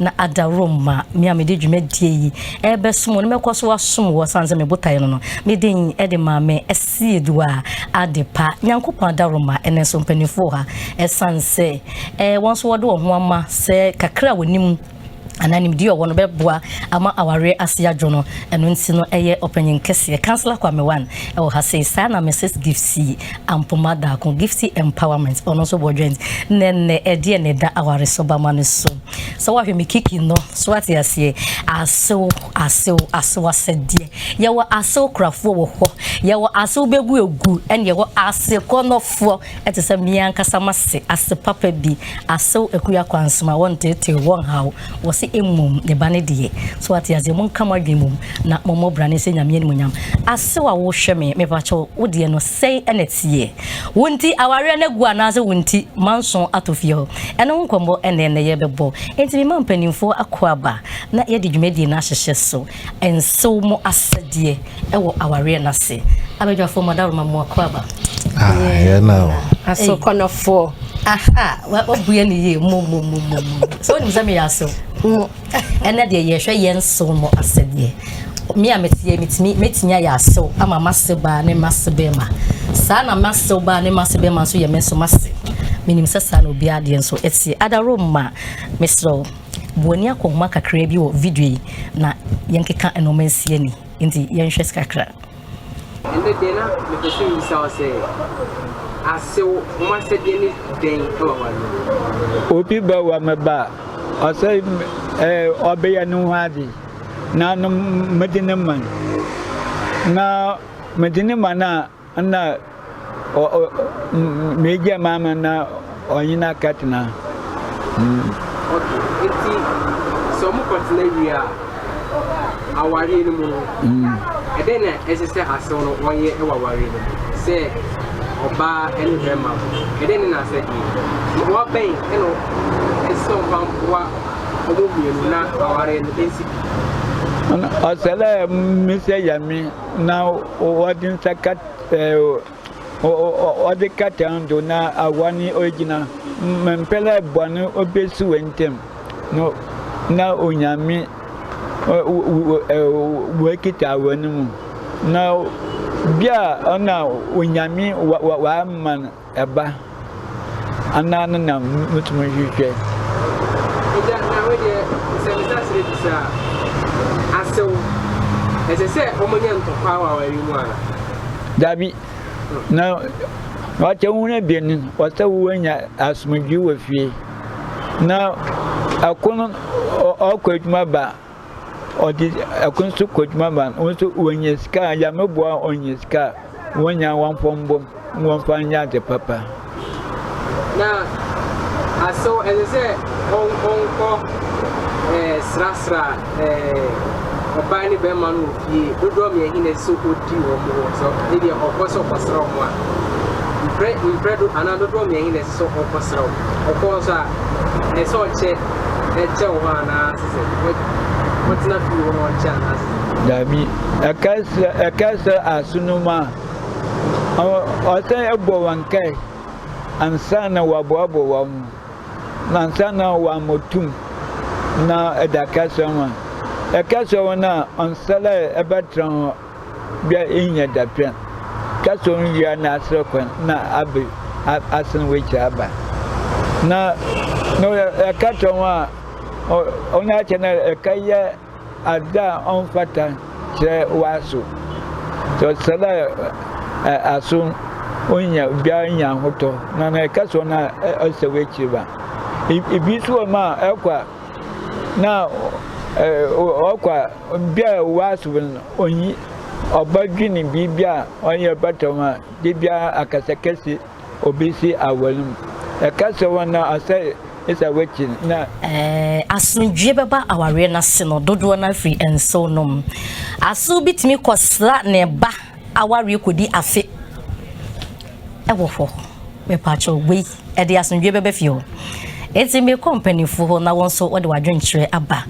na adaworo ma me a mede dwumadie yi ɛbɛsom no mɛkɔ so asom wɔ sane sɛ mebotaeɛ no no meden ɛde ma me ɛsiedu a ade pa nyankopɔn adaworo ma ɛnɛ so mpanimfoɔ ha ɛsane sɛ wɔn nso wɔde wɔn ho ama sɛ kakra a wɔnim anaa nimdeɛ ɔwɔ no bɛboa ama awareɛ ase adwo no ɛno nti no ɛyɛ ɔpanyin kɛseɛ councillor kwame wan ɛwɔ ha sei saa na mrs gifty ampoma daako gifty empowerment ɔno nso bɔ dwɛn na ɛnɛ ɛdeɛ na ɛda aware so bama no so sɛ wahwɛ me kiki no so ate aseɛ asew asew asew asɛdeɛ yɛwɔ asew korafoɔ wɔ hɔ yɛwɔ asew bɛgu egu ɛne yɛwɔ asekɔnɔfoɔ Ɛte sɛ me ankasa m'ase, ase papa bi, asew akuo akwansom a wɔnteeteew, wɔnhaw, wɔse mmom ne ba no deɛ. So wate aseɛ? Monka mo adwene mmom na mommɔ bra no nhyɛ Nyame animuonyam. Asew a wohwɛ me, mepakyɛ wo, wo deɛ no sɛn na ɛteɛ? Wo nti awareɛ no agu anaasɛ wo nti manso atɔ fie hɔ? Ɛno ho nkɔmmɔ na ɛnnɛ yɛrebɛbɔ. Enti mema mpanimfoɔ akwaaba na yɛde dwumadie no ahyehyɛ so. nsew mo asɛdeɛ wɔ awareɛ no ase abadwafoɔ mo adaworo ma mo akɔ aba aso kɔnɔfoɔ wabue ne yie momomomo sɛ wonim sɛ meyɛ asew ɛnɛ deɛ yɛhwɛ yɛ nsew mo asɛdeɛ me a meteɛ metumi mɛtumi ayɛ asew ama mase baa ne mase bɛma saa na masew baa ne mase bɛma nso yɛ me nso mase menim sɛ saa na obiara deɛ nso ɛteɛ adaworo ma meserɛ Bu w'ani akɔnhoma kakraa bi wɔ video yi na yɛnkeka nnoɔma nsi ani. Nti yɛnhwɛ kakra. Ɛndɛ deɛ na mepɛ sɛ mebisa wo sɛ, asew ho asɛdeɛ ne dɛn wɔ w'adwenem? Obi ba wɔ me ba a, ɔsɛ ɛɛ ɔbɛyɛ ne ho ade na no mede no ma no. Na mede no ma no a, Nna m'egya maa me na ɔnye no akɛtsena. Ok, ntsi sɛ ɔmo kɔ tsena wie a, awareɛ no mu no, ɛdɛn na ɛsɛ sɛ asew no wɔyɛ wɔ awareɛ no mu? Sɛ ɔbaa ne barima no, ɛdɛn ne n'asɛdeɛ? Mmoa bɛn na ɛsɛ sɛ ɔmfa mboa wɔn mmienu na awareɛ no nsi pi? Ɔsɛ dɛ mesɛ Nyame. na ɔdze nsa kat ɔdze kata no do na awa no oegyina mber a bɔn obesi hɔn ntamu no na Onyame oekitsa awa no mu, na bi a nna Onyame ɔama no. Ɛba anaa ne nam mutumi nhwehwɛ. Agya, na wei deɛ sɛ me sa serɛ bisa a, asew, ɛsɛ sɛ wɔnya ntɔkwaw a wɔawe mu ana? Dabi, na wakyɛ wo ho abien no, wɔsɛ wo anya asomdwie wɔ fie, na ɛko no ɔkɔ adwuma ba Ɔde ɛko nso kɔ adwuma ma wɔn nso wɔnya sika a Nyame boa wɔn nya sika a wɔnya wɔmfa mbom na wɔmfa nyɛ ade papa. Na asew ɛsɛ sɛ wɔnkɔ srasra ɔbaa ne bɛrima no wɔ fie dodoɔ mmiɛ he na ɛsɛ sɛ ɔdi wɔn wɔ sɛ ebi ɔkɔ sɛ ɔkɔsra wɔn a mprɛ mprɛ do anaa dodoɔ mmiɛ he na ɛsɛ So ɔkɔsrɛ wo? Ɔkɔ nso a, ɛsɛ sɛ ɔkyɛ kyɛ wo hɔ anaa sɛ ɔtena fie hɔ na ɔkyɛ anaa sɛ? Dabi, ɛkɛsrɛ ɛkɛsrɛ asonom a, ɔsɛ ɛbɔ wɔn nkae ansa na wɔaboaboa wɔn ho, na ansa na wɔamɔ tum na ɛda kɛsrɛ wɔn. Ɛkɛsrɛ wɔn a, ɔnsɛ dɛ ɛbɛtra hɔ. bia enhia dapɛn ka sɛ ɔnwia n'asrɛ kwan na abɛ asen w'akyiri aba na na ɛka kyerɛ ho a ɔno akyɛ na ɛka yɛ adze a ɔmfata kyerɛ w'aso sɛ ɔsɛ dɛ aso ɔnya bia nya ahotɔ na na ɛka sɛ ɔno a ɔsɛ w'akyiri ba ebi nso wɔ mu a ɛkɔ a na ɔkɔ a bia a ɔwɔ asobo no ɔnyi ɔba dwene biribi a ɔyɛ bata ho a de bia akasa kɛse ɔbɛsi aware mu ɛkasa hɔ na asɛ ɛsɛ wakyi na asomdwie bɛba awareɛ no ase no dodoɔ no afiri nsew nom aso bi tumi kɔsra ne ba awareɛ kɔdi afe ɛwɔ hɔ mepaakyɛw wei ɛde asomdwoe bɛba fie hɔ. Enti mekɔ mpanyimfo hɔ na wɔn nso wɔde wɔn adwenkyerɛ aba.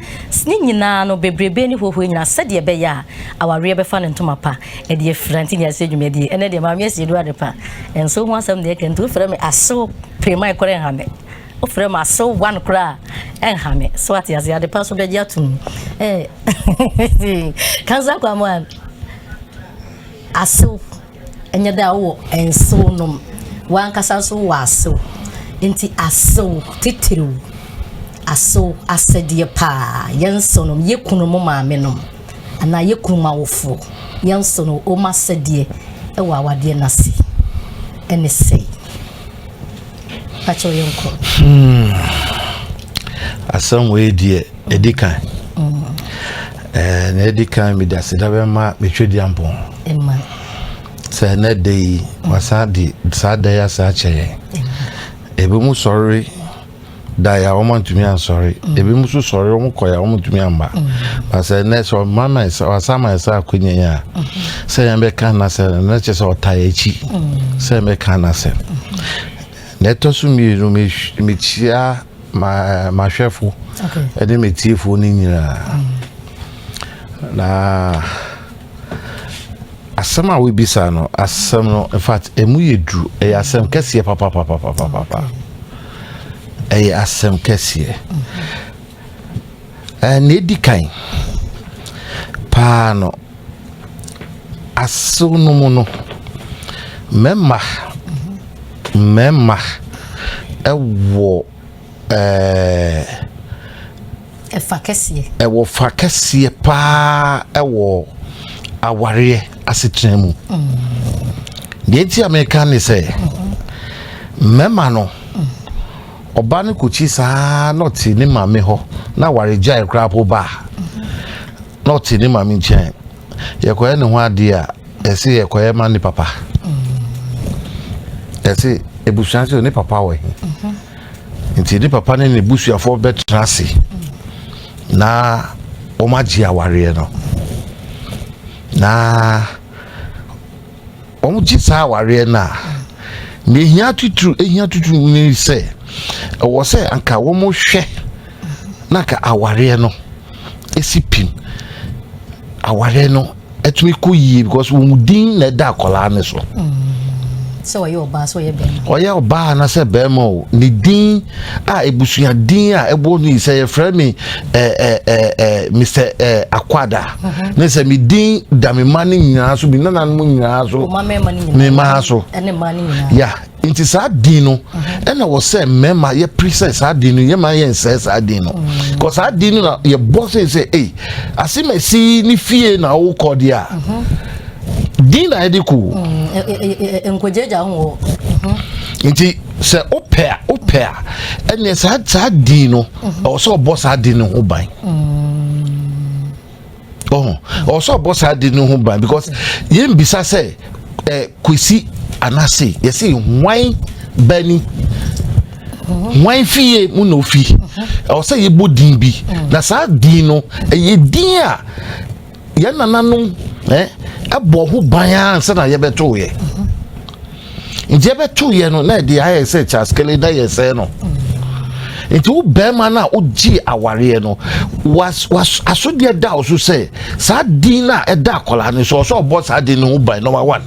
Ne nyinaa no, bebrebe ne huahua nyinaa sɛdeɛ ɛbɛyɛ a awareɛ bɛfa ne ntoma pa de afira nti na yɛahyɛ dwumadie. Ɛnɛ deɛ maame asi aduru adepa nso ho asɛm na yɛka nti wofrɛ me asew piriman koraa ɛnha me. Wofrɛ me asew one koraa ɛnha me. So ate ase adepa nso bɛgye atom. Eh, kansa kwamwan asew. Ɛnyɛ dɛ wowɔ nsew nom, w'ankasa nso wowɔ asew. Enti asew titiriw, asew asɛdeɛ paa, yɛn nsew nom, yɛ kununom maamenom anaa yɛ kununom awofoɔ, yɛn nsew nom, wɔn asɛdeɛ wɔ awadeɛ no ase ne sɛi. pakyɛ yɛ nkɔ. Hmm. asɛm wei deɛ ɛdi kan mm. eh, na ɛdi kan mede aseda bɛma metwe di ampɔn sɛ ɛnɛ da yi wasan de saa da yi asan akyɛ yɛn ebi mu sɔre dae a wɔantumi ansɔre mm. ebi mu nso sɔre wɔn kɔe a wɔntumi amba mm. basɛ ɛnɛ sɛ ɔma ma ɛsɛ ɔasa ma ɛsɛ akonya yi a mm. sɛ yɛn bɛka n'asɛ ɛnɛ kyɛ sɛ ɔta yɛ akyi sɛ yɛn bɛka n'asɛ na ɛtɔ so mmienu mekyia mahwɛfo ɛne metiefo no nyinaa na asɛm a wobisa no asɛm no in fact ɛmu yɛ duru ɛyɛ asɛm kɛseɛ papapapapapa ɛyɛ asɛm kɛseɛ na ɛdi kan paa no asew no mu no mmarima mmarima ɛwɔ ɛɛ. Ɛfa kɛseɛ. Ɛwɔ fa kɛseɛ paa ɛwɔ awareɛ asetena mu. Deɛ nti a meka ne sɛ mmarima no ɔba no kɔkyi saa na ɔte ne maame hɔ na awaregyae koraa po ba a na ɔte ne maame nkyɛn yɛkɔyɛ ne ho adeɛ a ɛsɛ yɛkɔyɛ ma ne papa ɛsɛ ebusua sɛ ne papa wɔ he nti ne papa ne ne busuafoɔ bɛtena ase na wɔn agye awareɛ no na. Wɔgye saa awareɛ no a, deɛ ɛhia titiriw ɛhia titiriw ne sɛ ɛwɔ sɛ anka wɔhwɛ na anka awareɛ no ɛsi pim awareɛ no ɛtumi kɔ yie because wɔn din na ɛda akwadaa no so. sɛ ɔyɛ ɔbaa sɛ ɔyɛ bɛrima ɔyɛ ɔbaa anasɛ bɛrima o ne din a ebusua din a ɛbɔ ne sɛ yɛfrɛ me ɛɛ ɛɛ ɛɛ mr ɛɛ akwada mhm. ne sɛ medin da me ma no nyinaa so me nananom nyinaa so me maa so ya nti saa din no mhm. ɛna wɔ sɛ mmarima yɛpere sɛ saa din no yɛma yɛnsɛe saa din no mhm. kɔ saa din no na yɛbɔ sɛ sɛ ei ase masi ne fie na wokɔ deɛ a din na yɛde kɔ mm, nkɔgyagya ho nti sɛ wopɛ a wopɛ a ɛneɛ saa saa din no ɛwɔ sɛ ɔbɔ saa din no ho ban ɔho ɔwɔ sɛ ɔbɔ saa de no ho ban because yɛmbisa sɛ eh, kwesi anase yɛsɛ hwan bani hwan fie mu na ofi ɛwɔ sɛ yɛbɔ din bi na saa din no ɛyɛ din a yɛn nananom eh, ɛbɔ ho ban ara nsa na yɛbɛto yɛ nti yɛbɛto yɛ no na ɛde ayɛ sɛ kyaskele na yɛ sɛ no nti wo bɛrima no a wogye awareɛ no asodeɛ da wo so sɛ saa din no a ɛda akwadaa no so ɔsɛ ɔbɔ saa din no ho ban number one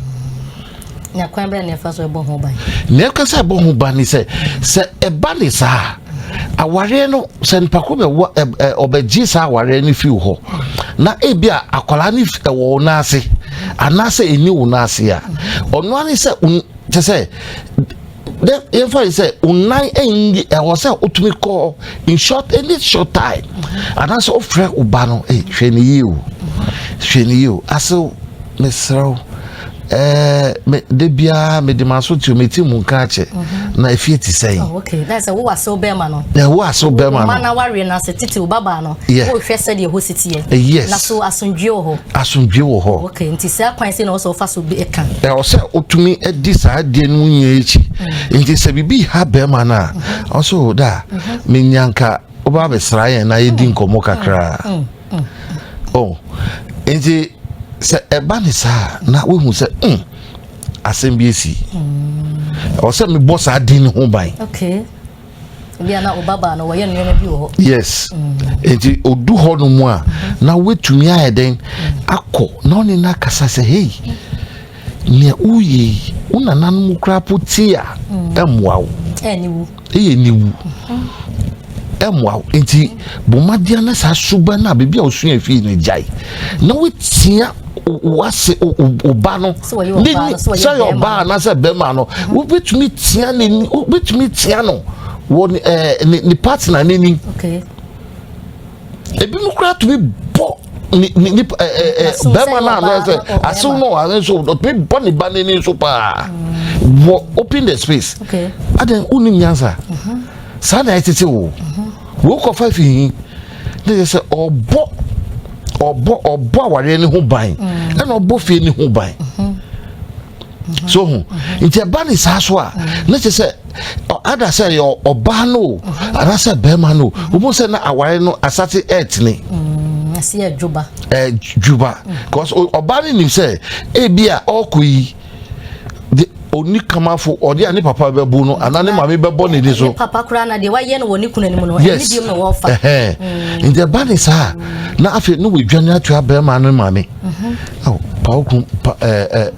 Na kwan bɛn na ɛfa so ɛbɔ ho ban? Nea ɛka sɛ ɛbɔ ho ban ne sɛ sɛ ɛba ne saa awareɛ no sɛ nipa ko bɛwɔ ɛ ɔbɛgye saa awareɛ no fi hɔ na ebi a akwadaa no ɛwɔ wɔn nan ase anaasɛ ɛni wɔn nan ase a ɔno ara ne sɛ kyɛ sɛ. Dɛ yɛmfa no sɛ wo nan nnyi ɛwɔ sɛ wotumi kɔ in short any short time anaasɛ wofrɛ wo ba no hey, hwɛ ne yie o hwɛ ne yie o asew mesrɛ wo Eh, me de biara mede m'aso tio meti mu nka akyɛ mhm. na efie te sɛn. Oh, okay na sɛ wowɔ asew bɛrima no. na ɛwɔ asew bɛrima no. mma na wareɛ na sɛ tete wo babaa no. yɛ wohwɛ sɛdeɛ ɛhɔ si teɛ. Eh, yes na so asomdwie wɔ hɔ. asomdwie wɔ hɔ. Okay, nti saa kwan sɛ na ɔsɛ ɔfa so de ɛka. Na ɔsɛ ɔtumi di saa adeɛ no mu nyɛ akyi. Mm. Nti sɛ biribi ha bɛrima no a, mm-hmm. ɔsɛ o oh, da mm-hmm. menya nka wobaa bɛsra yɛn na yɛdi mm. nkɔmmɔ kakraa. Mm. Oh, nti sɛ ɛba ne saa na wohu sɛ mm, asɛm bi asi. Ɔsɛ mebɔ saa din no ho ban. Okay. bia na obaba no wɔyɛ nneɛma bi wɔ hɔ yes nti odu hɔ no mu a na wetumi ayɛ dɛn akɔ na ɔne no akasa sɛ hei nea woyɛ yi wo nananom koraa po ti a ɛmmoa wo ɛyɛ niwu ɛmmoa wo nti bɔmmadeɛ na saa suba no a biribi a wosua fie no gyae na wotia wase ɔba no sɛ yɛ ɔbaa anaasɛ bɛrima no mhm. wobɛtumi tia ne wobɛtumi tia no wɔ ne eh, ne partner n'anim ebinom koraa tumi bɔ ni ni ni ɛɛ eh, eh, bɛrima no ano sɛ asew no ɔhare nso ɔtumi bɔ ne ba n'ani nso paa mm. wɔ open the space adan wonim nyansa mhm. saa na ɛtete wo mhm. wokɔfa fi hi na yɛ sɛ ɔbɔ ɔbɔ ɔbɔ awareɛ no ho ban mm. ɛna ɔbɔ fie no ho ban mm-hmm. Mm-hmm. so ho mm-hmm. nti ɛba ne saa so a na kyɛ sɛ ada sɛ yɛ ɔbaa no o anaasɛ bɛrima no o wɔn sɛ na aware no asate ɛɛtene. ɛsi mm, ɛdwuba. ɛdwuba cause ɔbaa no nim sɛ ebi a ɔɔkɔ yi. de onikamafo ɔde a ne papa bɛbu no anaa ne maame bɛbɔ ne de so. papa koraa na deɛ wayɛ no wɔ ne kuna no mu no ɛne biom na wɔfa. Mm. nti ɛba ne saa na afei ne wɔadwane ato abɛrima no maame mhm. pawoku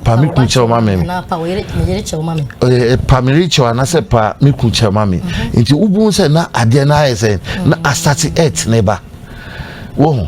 pame ku kyɛw ma me pamere kyɛw anaasɛ pa me ku kyɛw ma me mhm. nti wobu sɛ na adeɛ no ayɛ sɛ na mhm. asate ɛtene ba wɔ ho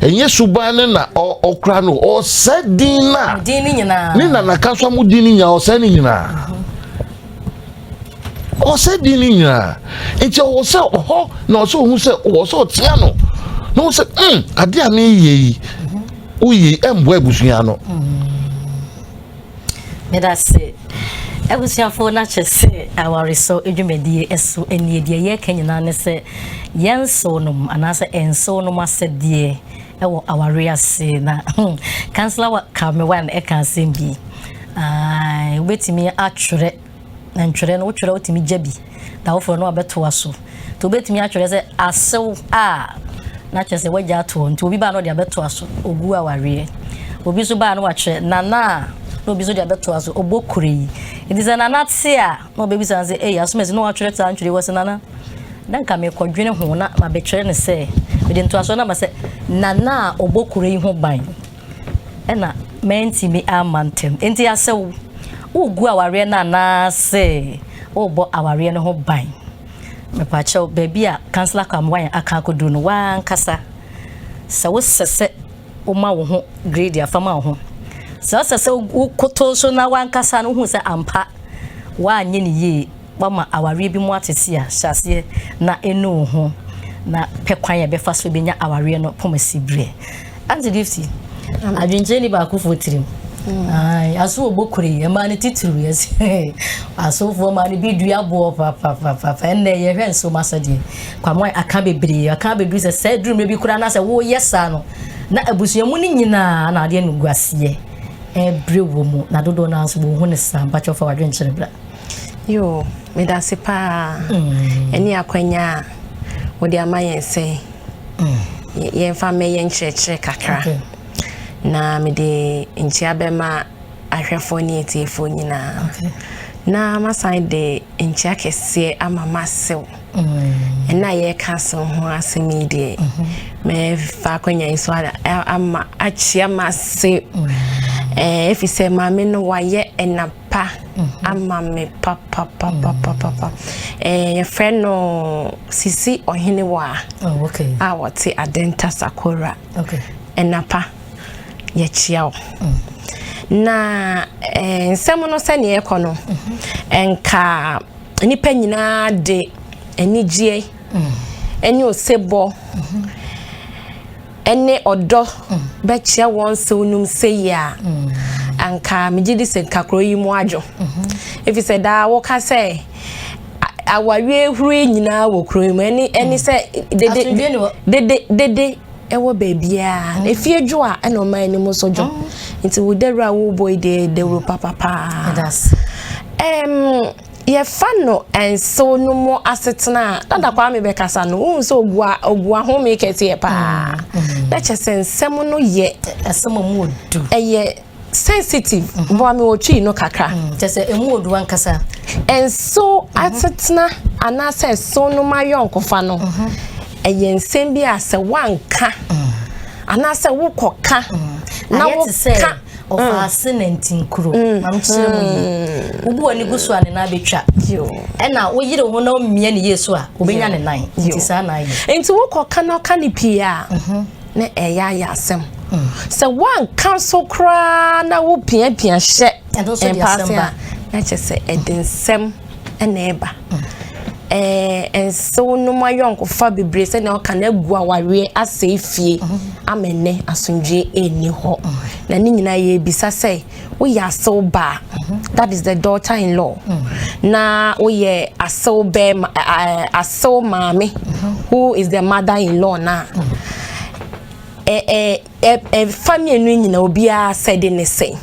ɛnyɛ suban no na ɔkora no ɔsɛ din no a ne nanaka nso mo din no nyinaa ɔsɛ no nyinaa ɔsɛ din no nyinaa nti ɔwɔ sɛ ɔhɔ na ɔsɛ ɔhu sɛ ɔwɔ sɛ ɔtea no na ɔhu sɛ mm adeɛ a meyɛ yi woyɛ ɛmboa abusua no Medase abusuafo no akyɛ sɛ awaresɔ dwumadie ɛso ɛnie deɛ yɛka nyinaa ne sɛ yɛnsow nom anaasɛ ɛnsow nom asɛdeɛ ɛwɔ aware ase na kansla wa kame wan ɛka asɛm bi wobɛtumi atwerɛ Na ntwerɛ no wotwerɛ wotumi gya bi na woforɔ no abɛtoa so nti wobɛtumi atwerɛ sɛ asew a na kyerɛ sɛ wagya ato hɔ nti obi baa na ɔde abɛtoa so ogu a wareɛ obi nso baa na wakyerɛ nana a na obi nso de abɛtoa so ɔbɔ kure yi nti sɛ nana te a na ɔbɛbisa sɛ ɛyɛ asomasi na watwerɛ saa ntwerɛ wɔ sɛ nana na nka mekɔdwene ho na mabɛkyerɛ ne sɛ mede ntoasoɔ no ama sɛ nana a ɔbɔ kure yi ho ban Ɛna mantumi amma ntɛm. Enti asɛ wogu awareɛ no anaase wobɔ awareɛ no ho ban. Mepaakyɛw baabi a Councillor Kwamwine aka akɔduru no w'ankasa sɛ wosɛ sɛ woma wo ho grade a fa ma wo ho. Sɛ wosɛ sɛ wokoto so na w'ankasa no wohu sɛ ampa w'anyɛ ne yie. Wama awareɛ bi mu atete a, hyɛ aseɛ na ɛnu wo ho na pɛ kwan a ɛbɛfa so bɛnya awareɛ no poma si berɛ. Auntie Gifty, adwenkyerɛ ni baakofoɔ tirim. Mm. Aso ɔbɔ kure yi, ɛmaa no titiriw yɛ sɛ asofoɔ maa no bi dua boɔ papapapapa. Ɛnnɛ yɛhwɛ nsoroma sɛdeɛ kwamoa aka bebree, aka abɛduru sɛ sɛ aduru mmerɛ bi koraa na sɛ woyɛ saa no na abusua mu no nyinaa na adeɛ no gu aseɛ ɛbrɛ wɔ mu na dodoɔ no ara nso wɔhu no saa. Mpakyɛ ɔfa wadwenkyerɛ bra. Yo, medase paa. Mm. Ɛne akwanya a wode ama yɛn sɛ mm. yɛmfa mmɛyɛ nkyerɛkyerɛ kakra. Okay. Na mede nkyia bɛma ahwɛfoɔ ne atiefoɔ nyinaa. Okay. Na masan de nkyia kɛseɛ ama masew. Mm. Ɛna yɛka so ho asɛm yi deɛ. Mm-hmm. Mɛfa akwanya yi so ama akyia mase. Mm. Eh, ɛfisɛ maame no wayɛ ɛna pa mhm. ama me papapapapapa eh, yɛfrɛ no sisi ɔhene wɔ a oh, a wɔte adenta sakora ɛnapa yɛkyia wo mm. na eh, nsɛm no sɛneɛ ɛkɔ no mhm. ɛnka nnipa nyinaa de anigyeɛ mm. ɛne osebɔ mhm. ne ɔdɔ bɛkyerɛ wɔn nsew nom sei a, anka megye di sɛ nka kuro yi mu adwo. Ɛfiri sɛ daa woka sɛ awareɛ huro yi nyinaa wɔ kuro yi mu. Ɛne ɛne sɛ dede dede dede ɛwɔ baabiara. Mm. Efie dwo a ɛna ɔman anim nso dwo. Mm. Nti wo dawuro a wobɔ yi deɛ dawuro papapaa. Ɛdas. Ɛm. Yɛfa no nsew no mu asetena a, Dada Kwame bɛkasa no, wohu sɛ obua obua home kɛseɛ paa. Mm-hmm. Na kyɛ sɛ nsɛm no yɛ. Asɛm a mu odu. Ɛyɛ sensitive. Mm-hmm. Bɔ ame otwi no kakra. Mm-hmm. Kyɛ sɛ emu odu ankasa. Nsew asetena anaasɛ nsew no ma yɔnkofa no. Ɛyɛ nsɛm bi a sɛ wanka. Anaasɛ wokɔka. Na woka. ɔfaase nantinkuro mam kyerɛ mu yi wobu w'ani gu so a ne nan bɛtwa ɛna woyere ho na wommia ne yie so a wobɛnya ne nan nti saa na ayɛ nti wokɔ ka no ɔka ne pii a mhm. na ɛyɛ ayɛ asɛm mm. sɛ woanka so koraa na wopiapia hyɛ mpaase a na kyɛ sɛ ɛde nsɛm ɛna ɛba ɛɛ nsew no mu ayɔnkofa bebree sɛ na ɔka na egu awareɛ asɛe fie ama nnɛ asomdwie ɛnni hɔ na ne nyinaa yɛ ebisa sɛ woyɛ asew baa that is the daughter in law na woyɛ asew bɛɛma ɛɛ asew maame who is the mother in law na ɛɛ. Ɛfa mmienu nyinaa obiara asɛde ne sɛn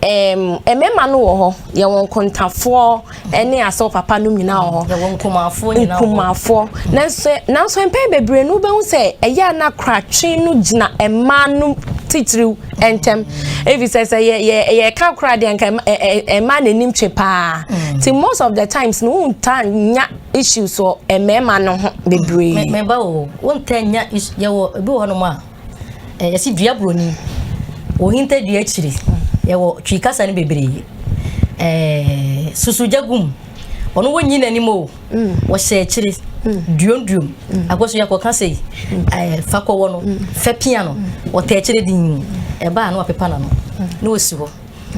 mmarima no wɔ hɔ yɛ wɔn kontafoɔ ne asɔ papa no nyinaa wɔ hɔ yɛ wɔn nkumafoɔ nyinaa nkumafoɔ nanso nanso mpɛn bebree no wobɛhu sɛ ɛyɛ a na koratwe no gyina mmaa no titiriw ntɛm ebi sɛ sɛ yɛ yɛ yɛka koraa deɛ nka mmaa n'anim twe paa mm. ti most of the times no wontaa nya issues wɔ mmarima no ho bebree. mɛba o wontaa nya yɛwɔ ebi wɔ hɔnom a yɛsi dua buroni ohinta dua akyiri yɛwɔ twi kasa no bebree ɛɛ susugya gum ɔno wonyi n'anim o wɔhyɛ akyire duomduom akɔso yɛkɔ ka sɛ ɛɛ fa kɔwɔ no fɛ pia no wɔtɛ akyire din ɛbaa no apepa na no na osi hɔ.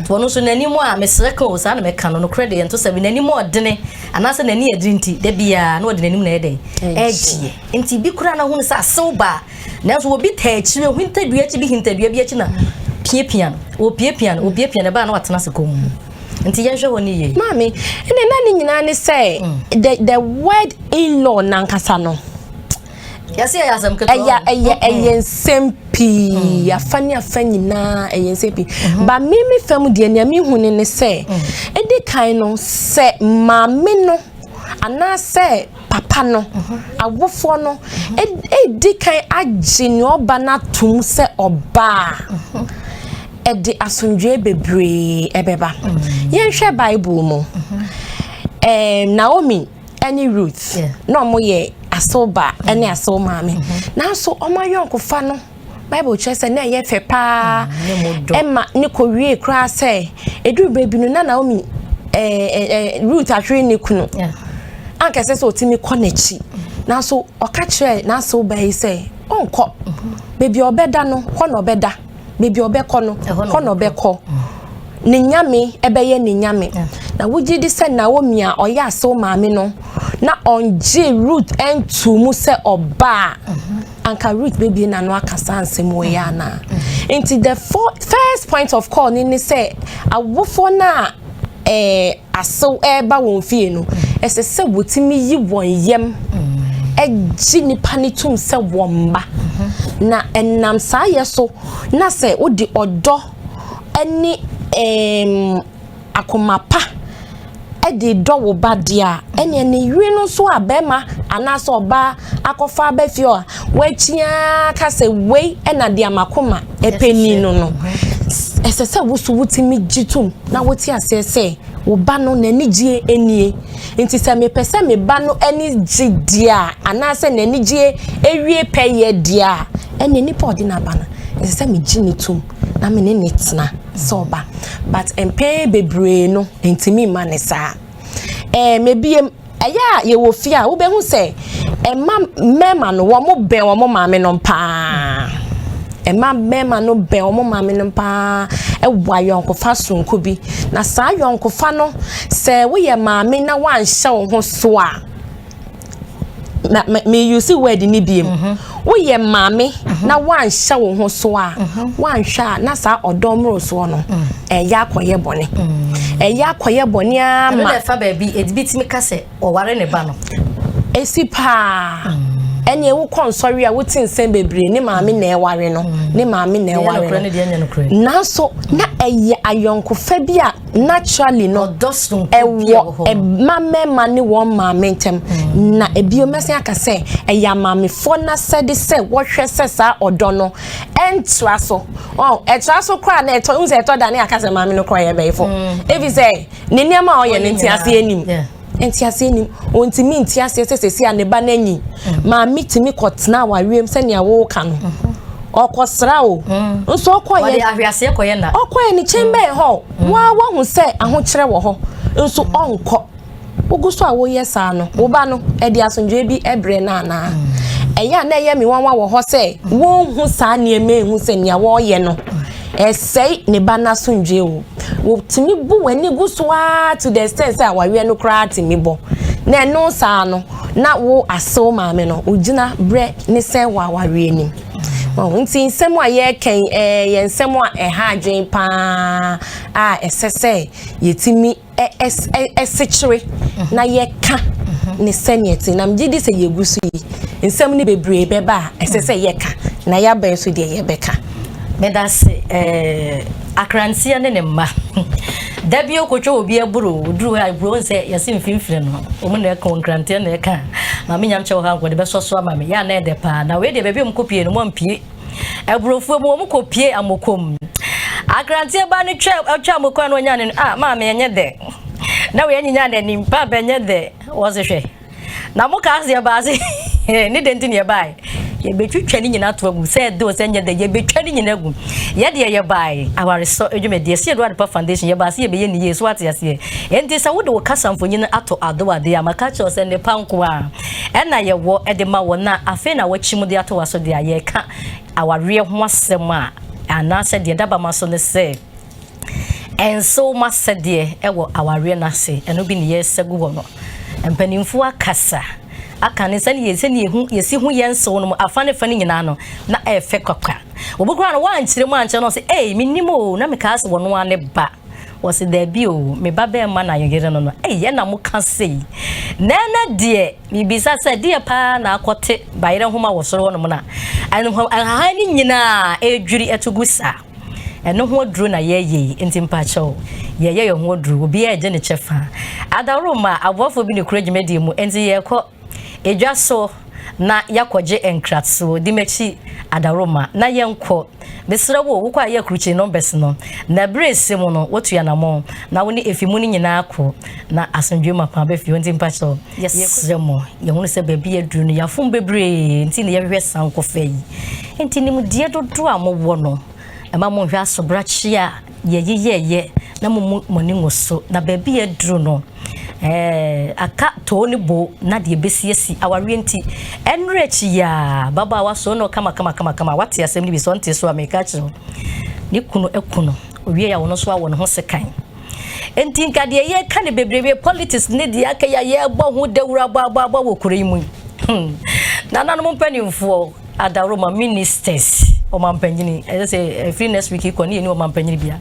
Ɔno nso n'anim a mesrɛ ka o saa na mɛka no nokorɛ deɛ ɛnto sɛ me n'anim a ɔdene anaasɛ n'ani adiri nti da biara na ɔde n'anim na ɛyɛ dɛn ɛgyeɛ nti bi koraa na hunu sɛ asew baa nanso obi taa akyiri o hintadua akyi bi hintadua bi akyi na piapia no ɔpiapia no ɔpiapia no ɛbaa na watena ase kɔn mu nti yɛnhwɛ hɔ ne yie. maame ɛnna na ne nyinaa ne sɛ mm. the the word in law nankasa no. ɛyɛ ɛyɛ ɛyɛ nsɛm pii mm. afa ne afa nyinaa ɛyɛ nsɛm pii mm-hmm. ba me me fam deɛ nea mehu ne ne sɛ ɛdi mm. kan no sɛ maame no anaasɛ papa no mm-hmm. awofoɔ no ɛdi mm-hmm. kan agye ne ɔba no atom sɛ ɔbaa ɛde asomdwoe bebree ɛbɛba yɛnhwɛ bible mu naomi ne Ruth na wɔn yɛ asew ba ne mm-hmm. asew maame mm-hmm. nanso wɔn ayɔnkofa no bible kyerɛ sɛ na ɛyɛ fɛ paa mm-hmm. ɛma ne kɔ wie koraa sɛ eduru baabi no na Naomi ɛɛ eh, ɛɛ eh, eh, Ruth ahwere ne kunu ankɛsɛ sɛ ɔtumi kɔ n'akyi nanso ɔka kyerɛ n'asew ba yi sɛ ɔnkɔ baabi a ɔbɛda no hɔ na ɔbɛda. baabi a ɔbɛkɔ no hɔ na ɔbɛkɔ ne nyame ɛbɛyɛ ne nyame na wogye di sɛ naomi a ɔyɛ asew maame no na ɔngye root ɛntu mu sɛ ɔbaa anka root bebie n'ano aka saa nsɛm wɔ yɛ ana nti the first point of call ne ne sɛ awofoɔ no a ɛɛ. Eh, asew reba wɔn fie no, ɛsɛ sɛ wɔtumi yi wɔn yam gye nnipa no tom sɛ wɔn mma. Na ɛnam saa yɛ so na sɛ wode ɔdɔ ne um, akoma pa de dɔ wo ba deɛ a, ɛneɛ ne yere no nso a bɛrima anaasɛ ɔbaa akɔfa aba fie a wakyi ara ka sɛ wei na deɛ makoma ɛpɛ ni no no ɛsɛ sɛ woso wotumi gye tom na wote aseɛ sɛ wo ba no n'anigyie nie nti sɛ mepɛ sɛ me ba no ani gye deɛ a anaasɛ n'anigyie awie pɛyɛ deɛ a ɛne nipa ɔde n'aba no ɛsɛ sɛ megye ne tom na me ne ne tena sɛ ɔba but mpɛn bebree no ntumi mma ne saa ɛɛ mebie Ɛyɛ a yɛwɔ fie a wobɛhu sɛ ɛma mmarima no wɔn bɛn wɔn maame no paa ɛma mmarima no bɛn wɔn maame no paa ɛwɔ ayɔnkofa sonko bi na saa ayɔnkofa no sɛ woyɛ maame na wanhyɛ wo ho so a na me use word ni biem. Mm -hmm. Woyɛ maame na woanhyɛ wo ho so a, woanhwɛ a na saa ɔdɔ mmorosoɔ no, ɛyɛ akɔyɛ bɔne. Ɛyɛ akɔyɛ bɔne ara ma. Ɛno na ɛfa baabi, ebi tumi ka sɛ ɔware ne ba no. Esi paa. Ɛnneɛ wokɔ nsɔre a wote nsɛm bebree ne maame na ɛware no, ne maame na ɛware no. Nanso na ɛyɛ ayɔnkofa bi a naturally no ɛwɔ mma mmarima ne wɔn maame ntɛm mm. na ebio mɛsɛn aka sɛ ɛyɛ amaamefoɔ n'asɛde sɛ wɔhwɛ sɛ saa ɔdɔ no ɛntra so ɔn ɛtra so koraa na ɛtɔ n sɛ ɛtɔ da ne aka sɛ maame no koraa yɛ bɛyifo mm. ebi sɛ ne nneɛma a ɔyɛ ne nti ase anim. Ntease nnim. Ɔntumi nte aseɛ sɛ sɛsi a ne ba no anyin. Maame tumi kɔtena awareɛm sɛnea woka no. Ɔkɔsra o. Nso ɔkɔyɛ. Ahweaseɛ kɔyɛ na. Ɔkɔyɛ ne kyɛn bɛyɛ hɔ. Waa wahu sɛ ahokyerɛ wɔ hɔ. Nso ɔnkɔ. Wogu so a woyɛ saa no, wo ba no, ɛde asomdwoeɛ bi brɛ no anaa? Ɛyɛ a na ɛyɛ me nwanwa wɔ hɔ sɛ wonhu saa nneɛma yi nhu sɛ nea wɔreyɛ no ɛsɛe ne ba no asomdwoe o. Wotumi bu w'ani gu so ara to the extent sɛ awareɛ no koraa tumi bɔ. Na ɛno saa no, na wo asew maame no, wogyina berɛ ne sɛ wɔ awareɛ no mu. Wɔn nti nsɛm a yɛreka yi, ɛyɛ nsɛm a ɛha adwene paa a ɛsɛ sɛ yɛtumi ɛsekyere na yɛka ne sɛnea ɛte na megye di sɛ yɛgu so yi nsɛm no bebree bɛba a ɛsɛ sɛ yɛka na yɛaba nso deɛ yɛbɛka meda se akranteɛ ne ne mma da bi okotwa obi aburo oduru hɔ aburo nsɛ yɛse mfimfini no ɔmo na ɛka nkranteɛ na ɛka maame nyam kyɛ wɔ hɔ ankɔ de bɛsɔ so ama me yɛ anɛ ɛdɛ paa na wei deɛ baabi ɔmo kɔ pie no mo ampie Aburofuo mu wɔn kɔ pie amoko mu Akranteɛ baa no twa ɔtwa amoko a na ɔnya ne no ah maame ɛnyɛ dɛ na wei anyinya n'anim paapa ɛnyɛ dɛ wɔse hwɛ na mo kaa seɛ baa se ne dɛ nti ne yɛbae yɛbɛtwitwa ne nyina to agu sɛ ɛdɛ o sɛ nyɛ dɛ yɛbɛtwa ne nyina agu yɛdeɛ yɛbae awaresɔ adwumadeɛ sɛ yɛde adepa foundation yɛbaa se yɛbɛyɛ ne yie so ate aseɛ ɛnti sɛ wode wo kasa mfonyin ato adowadeɛ a maka kyerɛ sɛ ne pa nkoa ɛna yɛwɔ de ma wɔn a afei na wɔakyim de atoa so deɛ a yɛreka awareɛ ho asɛm a anaasɛ deɛ dabama so ne sɛ ɛnsew ma sɛdeɛ ɛwɔ awareɛ no ase ɛno bi ne yɛresa gu hɔ no mpanimfoɔ akasa aka ne sɛne yɛ sɛne yɛhu yɛsi ho yɛn nsew no mu afa ne fa no nyinaa no na ɛfɛ kwakwa obi koraa no wɔankyerɛ mu ankyerɛ no sɛ ei menim o na mekaa sɛ wɔn a ne ba Wɔse daabi o, me ba bɛɛma na yo yere no no ei ɛna mo ka sei. Na ɛnɛ deɛ mebisa sɛ deɛ paa na akɔ te bayerɛ nhoma wɔ soro hɔ nom na nhahan ne nyinaa ɛredwiri ɛto gu saa. Ɛno ho aduro na yɛyɛ yi nti mpakyɛw yɛyɛ yɛ ho aduro obiara ɛgye ne kyɛ faa. Adaworoma aboafoɔ bi ne kura dwumadie mu nti yɛkɔ. Edwa so na yɛakɔgye nkratso. Di m'ekyi, Adaworoma, na yɛnkɔ. Meserɛ wo, wokɔ a yɛ krukye numbers no. Na ber a ese mu no, wotu anamɔn, na wo ne efi mu no nyina akɔ, na asomdwee mu akɔ aba fie. Ntsi mpakyɛw, yɛserɛ mo, yɛhun sɛ beebi yedur no, yɛafom beberee ntsi na yɛhwehwɛ sankɔfa yi. Ntsi, nimdeɛ dodow a mowɔ no, mma monnhwɛ asoberakye a. yɛyeyɛeɛ na momu mo ani ngu so na baabi a aduru no ɛɛ aka too ne bo na deɛ ɛbɛsi asi awareɛ nti ɛnwerɛ akyi yɛ a babaawa so no kama kama kama kama wate asɛm no bi sɛ ɔnte so a meka kyerɛ wo ne kunu aku no owie a ɔno nso awɔ ne ho sekan nti nka deɛ yɛka no bebrebe politics ne deɛ aka yɛ a yɛbɔ ho dawuro abɔ abɔ abɔ wɔ kuro yi mu yi hmm. nananom mpanimfoɔ Adaworoma ministers ɔmampanyin ɛsɛ sɛ ɛfiri next week kɔ ne yɛni ɔmampanyin bia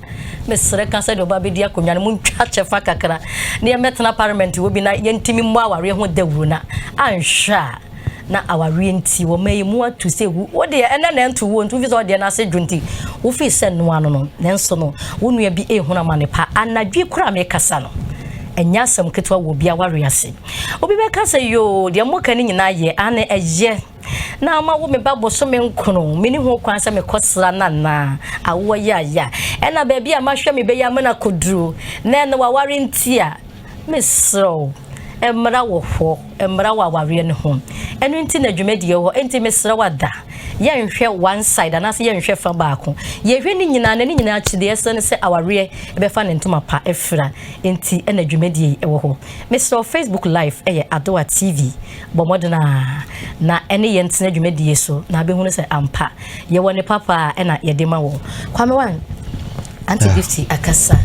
mesrɛ ka sɛdeɛ ɔba bɛdi akonnwa no mu ntwa kyɛfa kakra na yɛmmɛtena parliament wɔ bi na yɛntumi mmɔ awareɛ ho dawuro na anhwɛ a na awareɛ nti wɔ ma yi mu ato sɛ wu wo deɛ ɛnɛ na ɛnto wuo nti wofi sɛ ɔdeɛ no ase dwo nti wofi sɛ noa no no nanso no wo nua bi ɛhunu amane pa anadwi kora mekasa no ɛnyɛ asɛm ketewa wɔ bi awareɛ ase obi bɛka sɛ yoo deɛ moka no nyinaa yɛ ane ɛyɛ na ama wo me ba bosome nkron me ne ho kwan sɛ mekɔ sra no anaa awoɔ yaya ɛna baabi a mahwɛ me bɛyɛ ama no akɔduro na ɛna waware nti a meserɛ wo mmara wɔ hɔ mmara wɔ awareɛ no ho ɛno nti na dwumadie hɔ nti meserɛ wada yɛnhwɛ one side anaasɛ yɛnhwɛ fa baako yɛhwɛ ne nyinaa na ne nyinaa kyideɛ sɛ no sɛ awareɛ ɛbɛfa ne ntoma pa afira nti ɛna dwumadie yi ɛwɔ hɔ meserɛ facebook live ɛyɛ adoa tv Bɔ mmɔden a na ɛne yɛn tena dwumadie so na abɛhunu sɛ ampa yɛwɔ ne papa a ɛna yɛde ma wɔ kwame wan anti ah. gifty akasa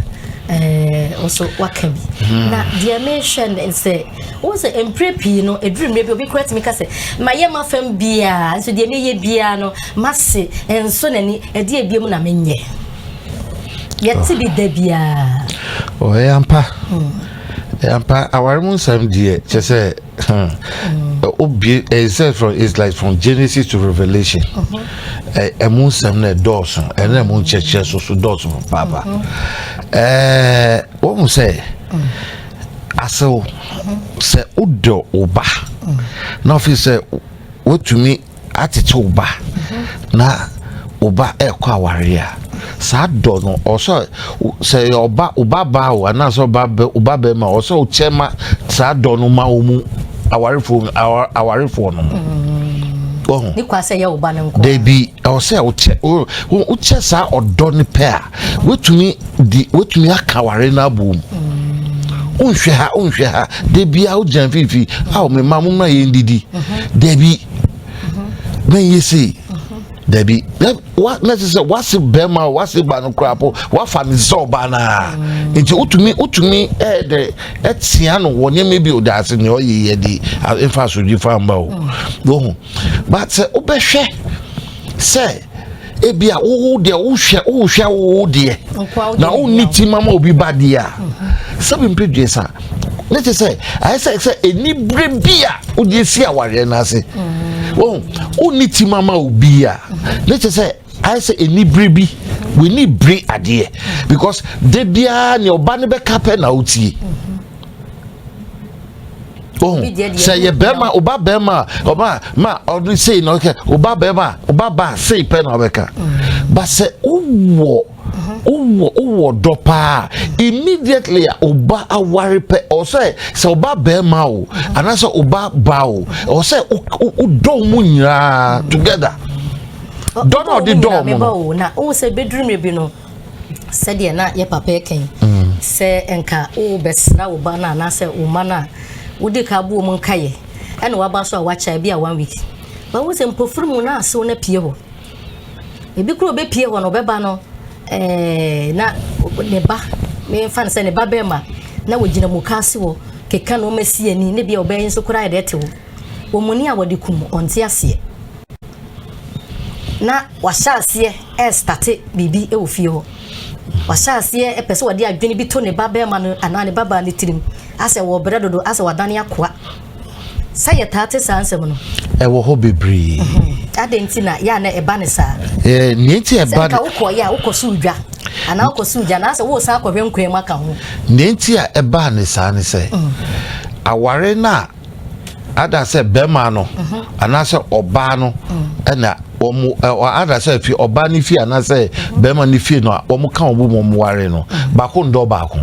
eh, nso waka bi hmm. na deɛ mehwɛ ne sɛ wo sɛ mprɛ pii no ɛduru mmerɛ bi obi kora tumi ka sɛ mayɛ ma fam biaa nso deɛ meyɛ biaa no mase nso n'ani ɛdeɛ bia mu na menyɛ yɛte bi da biaa ɔyɛ oh, ampa hmm. ampa aware mu nsɛm deɛ kyɛ sɛ obie it says from it's like from genesis to revelation ɛmu nsɛm na ɛdɔɔso ɛna ɛmu nkyɛkyɛ so so dɔɔso paapa ɛɛ wɔn mu sɛ asew sɛ wodɔ wo ba na ɔfi sɛ wotumi akyekye wo ba na wo ba ɛkɔ awareɛ a saa dɔ no ɔsɛ sɛ yɛ ɔba ɔba baa o anaasɛ ɔba bɛ ɔba bɛrima ɔsɛ ɔkyɛ ma saa dɔ no ma wɔn mu awarefoɔ awarefoɔ no ɔho ne kwa sɛ yɛ ɔba no nko dabi ɔsɛ ɔkyɛ ɔkyɛ saa ɔdɔ no pɛ a Wotumi di wotumi aka aware no abom. Wonhwɛ ha wonhwɛ ha da biara wogyina mfimfini a wɔn mma mo mmra yɛn didi. Dabi mɛnyɛ sei dabi na wa na kyerɛ sɛ wase bɛrima o wase ba no koraa po wafa ne sɛ ɔbaa naa nti wotumi wotumi ɛɛ dɛ ɛtia no wɔ nneɛma bi o daase nea ɔyɛ yɛ de nfa asodwi fa mba o wɔhu ba sɛ wobɛhwɛ sɛ. ebi a wowo deɛ wohwɛ wohwɛ wowo deɛ na wonni ti ma ma obi ba deɛ a mhm. sɛbi mpe dwen sa ne te sɛ ayɛ sɛ sɛ ɛnibere bi a wogye si awareɛ no ase mhm. wɔn wonni ti ma ma obi a mhm. ne te sɛ ayɛ sɛ ɛnibere bi w'ani bere adeɛ because de biara nea ɔba no bɛka pɛ na wotie. Mm -hmm. ohun sɛ yɛ bɛrima ɔba bɛrima a ɔba ma ɔde sei na ɔkɛ ɔba bɛrima a ɔba ba sei pɛ na ɔbɛka mm. ba sɛ ɔwɔ ɔwɔ ɔwɔ dɔ paa immediately a ɔba aware pɛ ɔsɛ sɛ ɔba bɛrima o mm-hmm. anaasɛ ɔba ba o ɔsɛ ɔdɔ mu nyinaa together dɔ na ɔde dɔ mu no. na ɔwɔ sɛ bɛduru mmerɛ bi no. sɛdeɛ na yɛ papa ɛka yi mm. sɛ nka wobɛsra wo ba no anaasɛ wo ma no a wode ka aboɔ mu nkayɛ ɛna waba so a wakyɛ bi a one week bawo sɛ mpofiri mu na asew no apue hɔ ebi kuro bɛpue hɔ no ɔbɛba no ɛɛ na ne ba mefa no sɛ ne ba bɛrima na wɔgyina mu ka ase wɔ keka na ɔma si ani ne bia ɔbɛyɛ nso koraa yɛde ɛte hɔ wɔn ni a wɔde kum ɔnte aseɛ na Wahyɛ aseɛ ɛrestate biribi wɔ fie hɔ. Wahyɛ aseɛ ɛpɛ sɛ wɔde adwene bi to ne ba bɛrima no anaa ne ba baa ne tirim asɛ wɔ brɛ dodo asɛ wadane akoa. Sɛ yɛ taa te saa nsɛm no. Ɛwɔ hɔ bebree. Mhm. Adɛn nti na yɛ a na ɛba ne saa? Ɛɛ nea nti ɛba. Sɛ nka wokɔ yɛ a wokɔ so dwa anaa wokɔ so dwa anaasɛ wosan akɔhwɛ nkwan mu aka ho. Nea nti a ɛbaa ne saa ne sɛ mm. aware no a ada sɛ bɛrima no anaasɛ ɔbaa no ɛna wɔn ada sɛ fi ɔbaa no fie anaasɛ bɛrima no fie no a wɔn ka wɔn wɔn ware no baako ndɔ baako.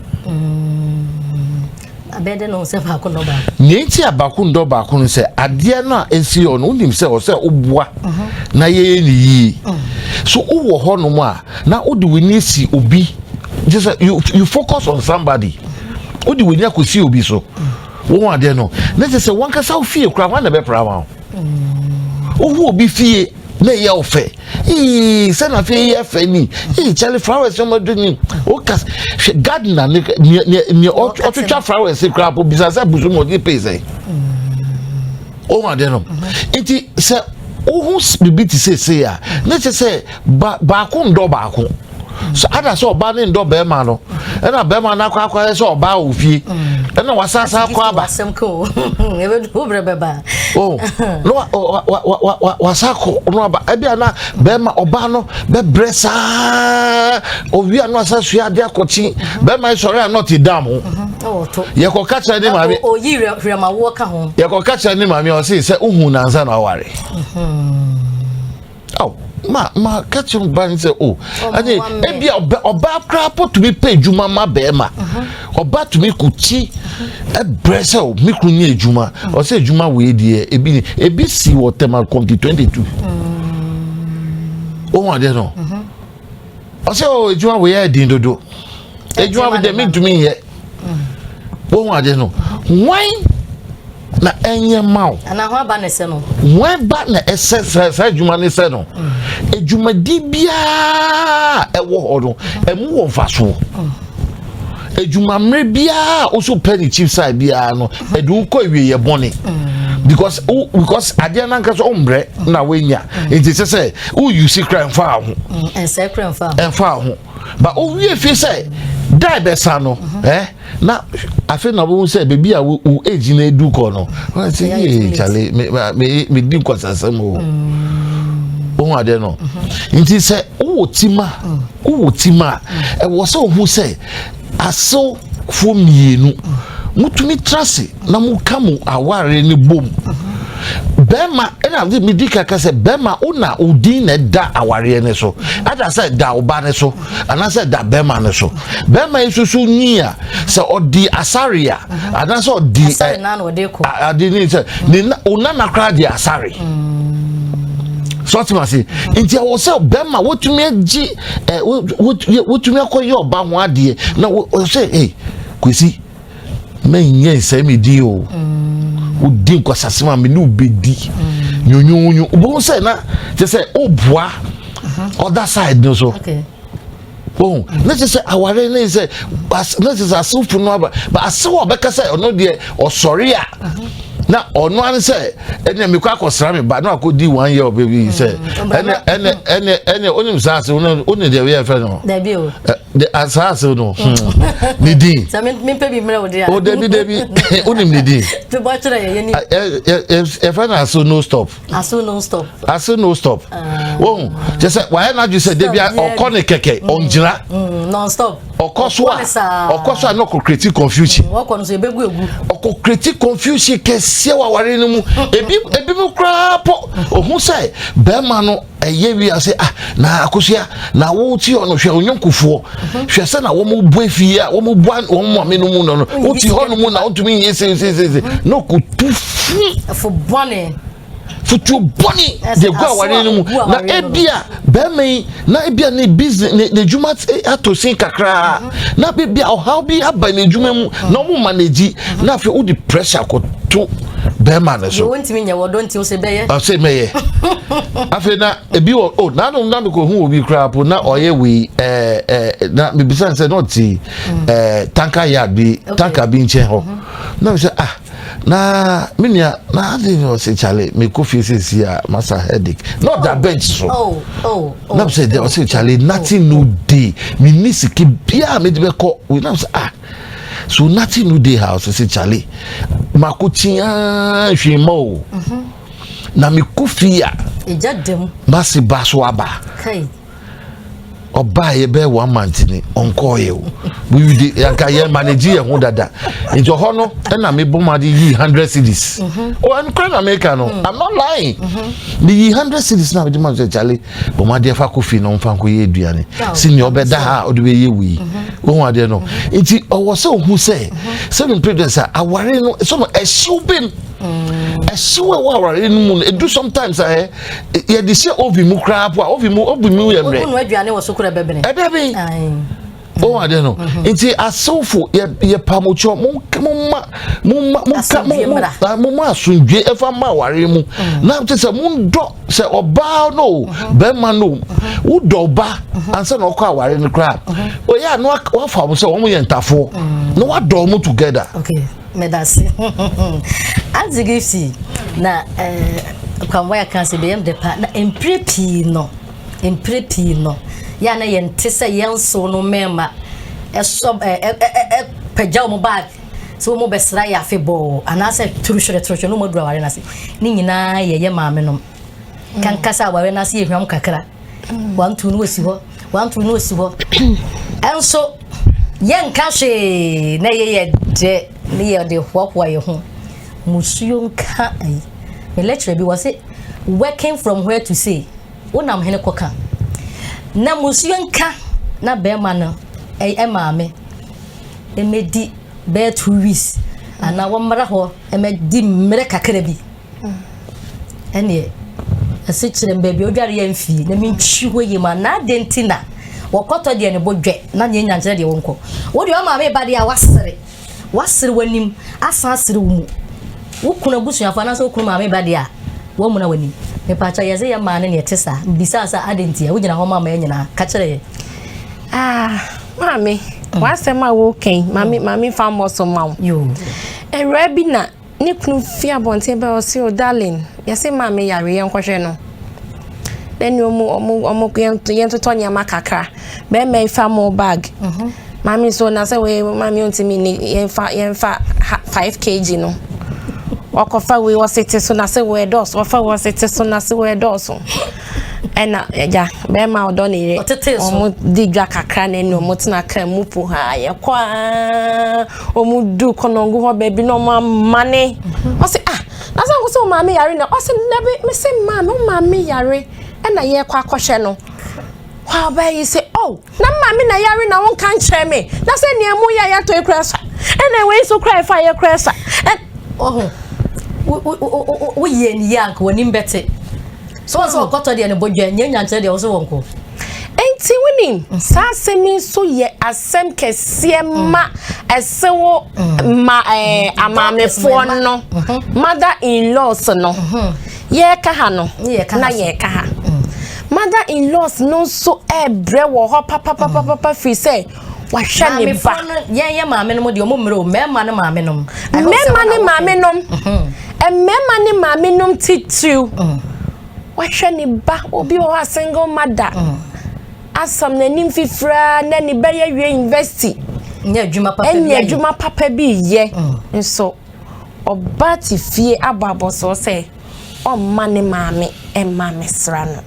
abɛɛde no sɛ baako ndɔ baako. nea nti a baako ndɔ baako no sɛ adeɛ no a esi hɔ no wonim sɛ ɔsɛ woboa na yɛyɛ ne yie so wowɔ hɔ nom a na wode w'ani si obi just you you focus on somebody wode w'ani akɔsi obi so. Mm -hmm. Wo ho adeɛ no, na ɛsɛ sɛ wankasa wo fie koraa hwan na ɛbɛpra ma wo? Wohu obi fie na ɛyɛ wo fɛ. Ee, sɛ na fie yɛ fɛ ni. Ee, kyale flowers no madu ni. Wokas, hwɛ gardener ne ne ɔtwitwa flowers koraa po bisa sɛ busu mu ɔde pay sɛ. Wo ho adeɛ no. Nti sɛ wohu biribi te sɛ sei a, na ɛsɛ sɛ baako ndɔ baako. so ada sɛ ɔbaa ne ndɔ bɛrima no ɛna bɛrima no akɔ akɔyɛ sɛ ɔbaa wɔ fie ɛna wasasa akɔ aba asɛm kɔ o ɛbɛdu wo berɛ bɛba o na wasa kɔ no aba ɛbi a na bɛrima ɔbaa no bɛbrɛ saa owie a na wasa sua adeɛ akɔkye bɛrima sɔre a na ɔte dam ho yɛkɔka kyerɛ ne maame yɛkɔka kyerɛ ne maame ɔse sɛ wohu nansa na ɔware Oh, ma ma ka kyerɛ ɔbaa no sɛ o ɛne ebi ɔbaa koraa po tumi pɛ adwuma ma bɛrima ɔbaa mhm. tumi ko ti ɛbrɛ sɛ o me kunu nyɛ adwuma mhm. ɔsɛ adwuma wei deɛ ebi ne ebi si wɔ tɛma kɔnti twenty two ohun mhm. adeɛ no ɔsɛ o oh, adwuma wo yɛ den dodo adwuma wo dɛ mentumi nyɛ wohu ade no wan na ɛnyɛ ma wo wan ba na ɛsɛ sɛ saa adwuma no sɛ no adwumadi biara ɛwɔ hɔ no ɛmu wɔ mfasoɔ adwumammerɛ biara a wosɛ wopɛ ne chief side biara no ɛde wokɔ awieyɛ bɔne because because adeɛ no ankasa wommerɛ na woanya nti sɛ sɛ woyu si kora mfa ho ɛmfa ho ba wowie fie sɛ da bɛsa no ɛ na afei na wobɛhu sɛ baabi a wo age no adu kɔ no sɛ yee kyale medi nkɔsasɛm o wohu adeɛ no nti sɛ wowɔ tima mm. Wowɔ tim a, ɛwɔ sɛ ohu sɛ asewfoɔ mmienu motumi tra ase na moka mo aware no bom. Bɛrima ɛna de medi kaka sɛ bɛrima wo na wo din na ɛda awareɛ no so. Ada sɛ ɛda ɔba no so anaasɛ ɛda bɛrima no so. Bɛrima yi soso nyi a sɛ ɔdi asare a anaasɛ ɔdi ɛ ade ne sɛ ne na onana koraa di asare. Mm. so ɔte ma se nti ɛwɔ sɛ bɛrima wotumi agye ɛ wotumi akɔyɛ ɔba ho adeɛ na ɔsɛ ɛ kwesi mɛnyɛ nsɛm mi din o wodi nkwasase ma mi ne obedi nyonyonyo obohu sɛ na kyɛ sɛ obua ɔda side no so. Okay. Wohu, na kyerɛ sɛ aware ne sɛ na kyerɛ sɛ asewfo no aba ba asew a ɔbɛka sɛ ɔno deɛ ɔsɔre a na ɔno ano sɛ ɛnna mekɔ akɔsra me ba na akɔdi one year ɔbɛ bi sɛ mm, ɛnɛ ɛnɛ ɛnɛ ɛnɛ onim saa asew no onim deɛ yɛ fɛ no de saa asew no hmm. mm. ne din o dabi dabi onim ne din yɛfɛ no asew no stop. ase no stop ase no stop wɔn ah. kyɛ sɛ wayɛ n'adwi sɛ debi ɔkɔ ne kɛkɛ mm. ɔngyina mm, non stop ɔkɔ so a ɔkɔ so a na ɔkɔ create confusion mm, ɔkɔ no so ebegu egu ɔkɔ create confusion kɛseɛ wɔ awari no mu ebi ebi mu koraa pɔ ohun sɛ bɛrima no Ɛyɛ wie a sɛ ah na akosua na wo ti hɔ no hwɛ onyonkofoɔ hwɛ sɛ na wɔn bu efi a wɔn bu wɔn maame no mu no no wo ti hɔ no mu na wɔntumi nyɛ sesesese na ɔkutu fi. ɛfo bɔne. futuo bɔne de gu awari no mu na ebi a bɛrima yi na ebi a ne business ne ne adwuma ato sin kakraa na ebi a ɔhaw bi aba ne adwuma mu na wɔn ma na edi na afei wodi pressure kɔto. bɛrima no so. yɛ wontumi nyɛ wɔdɔ nti sɛ bɛyɛ. ɔsɛ mɛyɛ afei na ebi wɔ o nanom na mekɔ hu obi koraa po na ɔyɛ wei ɛɛ ɛɛ na mebisa sɛ na ɔte ɛɛ mm. tanka yard bi tanka bi nkyɛn hɔ mhm. na mesɛ ah na me nua na adi ni ɔsɛ kyale mekɔ fie sisi a masa headache na ɔda oh. bench so oh, oh, na mesɛ ɔsɛ kyale nothing no day me ni sike biara mede bɛkɔ wei na mesɛ ah. So nothing no dey house I say Charlie mako tiaa hwee ma o mm-hmm. na me kɔ fie a mase ba so aba ɔbaa yɛ bɛyɛ one month ni ɔnkɔɔ yɛ o we de yanka yɛ manage yɛ ho dada nti ɔhɔ no ɛna mi bɔ ma de yi hundred cedis o ɛnu kura na mi ka no i'm not lying mi yi hundred cedis na mi de ma sɛ jale wɔn adeɛ fa kɔ fie na wɔn fa nkɔ yɛ aduane si nea ɔbɛda ha a ɔde bɛyɛ wei wɔn mhm. adeɛ no mhm. nti ɔwɔ sɛ ohu sɛ sɛbi president sɛ aware no sɛ ɛhyew bɛm mm. ɛhyew ɛwɔ aware no mu no edu sometimes ayɛ eh, yɛde hyɛ oven mu koraa po a oven mu oven mu yɛ mmerɛ ɛda bi. wɔn ade no nti asewfo yɛ yɛ pamukyɔ mo mo ma mo ma mo ka mo mo mo ma asundwe ɛfa ma aware mu na te sɛ mo dɔ sɛ ɔbaa no o bɛrima no o wo dɔ ɔba ansa na ɔkɔ aware no koraa oyɛ a na wafa wɔn sɛ wɔn yɛ ntafoɔ na wadɔ wɔn together. Okay. medase adze gifty na eh, kwamboa yɛ kan sɛ bɛyam dɛ pa na mpire pii no Mprɛ pii no, yɛ a na yɛnte sɛ yɛnsow no mmɛɛma ɛsɔ pagya wɔn bag sɛ wɔn bɛsra yɛ afe bɔɔ anaasɛ turu hwere turu hwere na wɔn aduru aware no ase. Ne nyinaa yɛ yɛ maame nom. Mm. Kanka sɛ aware no ase yɛ hwam kakra. Mm. Wantu no esi hɔ, wantu no esi hɔ. Ɛnso yɛnka hwee na yɛ yɛ dɛ ne yɛ de hoahoa yɛ ho. Musuo nka ayi. Me lecturer bi wɔ se Working from where to say wonam hene kɔka na musuo nka na bɛɛma no ɛyɛ maame mmɛdi bɛɛ two weeks anaa wɔmmra hɔ mmɛdi mmerɛ kakra bi ɛneɛ ɛse kyerɛ m baabi odware yɛ mfie na mentwi hɔ yie mu anaa deɛ nti na wɔkɔtɔ deɛ ne bo dwɛ na neɛ nya nkyerɛ deɛ wɔnkɔ wodeɛ ɔmaame ba deɛ a wasere Wɔasere w'anim asan asere wo mu. Wo kunu abusuafo anaasɛ wo kunu maame ba deɛ a, wɔamuna w'anim. Mepaakyɛw, yɛdze yɛ maa no nea ɛte saa. Mibisaa sɛ, Adɛn ntia? Wugyina hɔ ma ma yɛn nyinaa. Ka kyerɛ yɛn. Ah, maame, w'asɛm a woreka yi, maame, maame mfa mmɔ so mma wo. Yoo. Awuraa bi na Ne kunu fi abɔnten bɛ ɔse o darling yɛse maame yare yɛnkɔhwɛ no na ne ɔmu ɔmu ɔmu yɛntotɔ nneɛma kakra bɛrima yi fa mo bag mhm. maame so na sɛ wei maame ɔntumi ni yɛnfa yɛnfa five kg no ɔkɔfa wei ɔse te so na sɛ wei ɛdɔɔso ɔfa wei ɔse te so na sɛ wei ɛdɔɔso ɛna ɛgya bɛrima ɔdɔ ne yere ɔmo di dwa kakra na ɛna ɔmo tena kaa mu po ha yɛkɔ aa. Ɔmo du kɔnɔngo hɔ baabi na ɔmo amane. Ɔse ah, na sɛ nko sɛ ɔmaame yare na ɔse dabi mese maa no maame yare ɛna yɛkɔ akɔhwɛ no. Hɔ a ɔbaa yi se oh, na maame na yare na wo nka nkyerɛ me na sɛ nea emu yɛ yɛatɔ yi koraa sa ɛna wei so koraa ɛfa yɛ koraa sa. Ɔho, wo yɛ ne yie anka wɔnim bɛte. So wɔn sɛ wɔkɔtɔ deɛ no bodwa nyɛ nyankyerɛ deɛ wɔso wɔn ko. Enti wonim mhm. saa asɛm yi nso yɛ asɛm kɛseɛ mhm. ma ɛsewo mhm. ma ɛɛ amaamefoɔ no mother in laws no yɛreka ha no na yɛreka ha mother in laws no nso ɛɛbrɛ wɔ hɔ papapapapa firi sɛ. wahwɛ ne ba. maamefo no yɛn yɛ maame nom deɛ ɔmo mmerɛ o mmarima ne maame nom. mmarima ne maame nom mmarima ne maame nom titiriw mm. wahwɛ ne ba obi wɔ hɔ a single mother mm. asam n'anim fifiraa na ne ba yɛ wie university nyɛ adwuma papa bi yɛ mm. nso ɔba te fie abɔ abɔsoɔ sɛ. ɔmma ne maame mma mmɛsra no.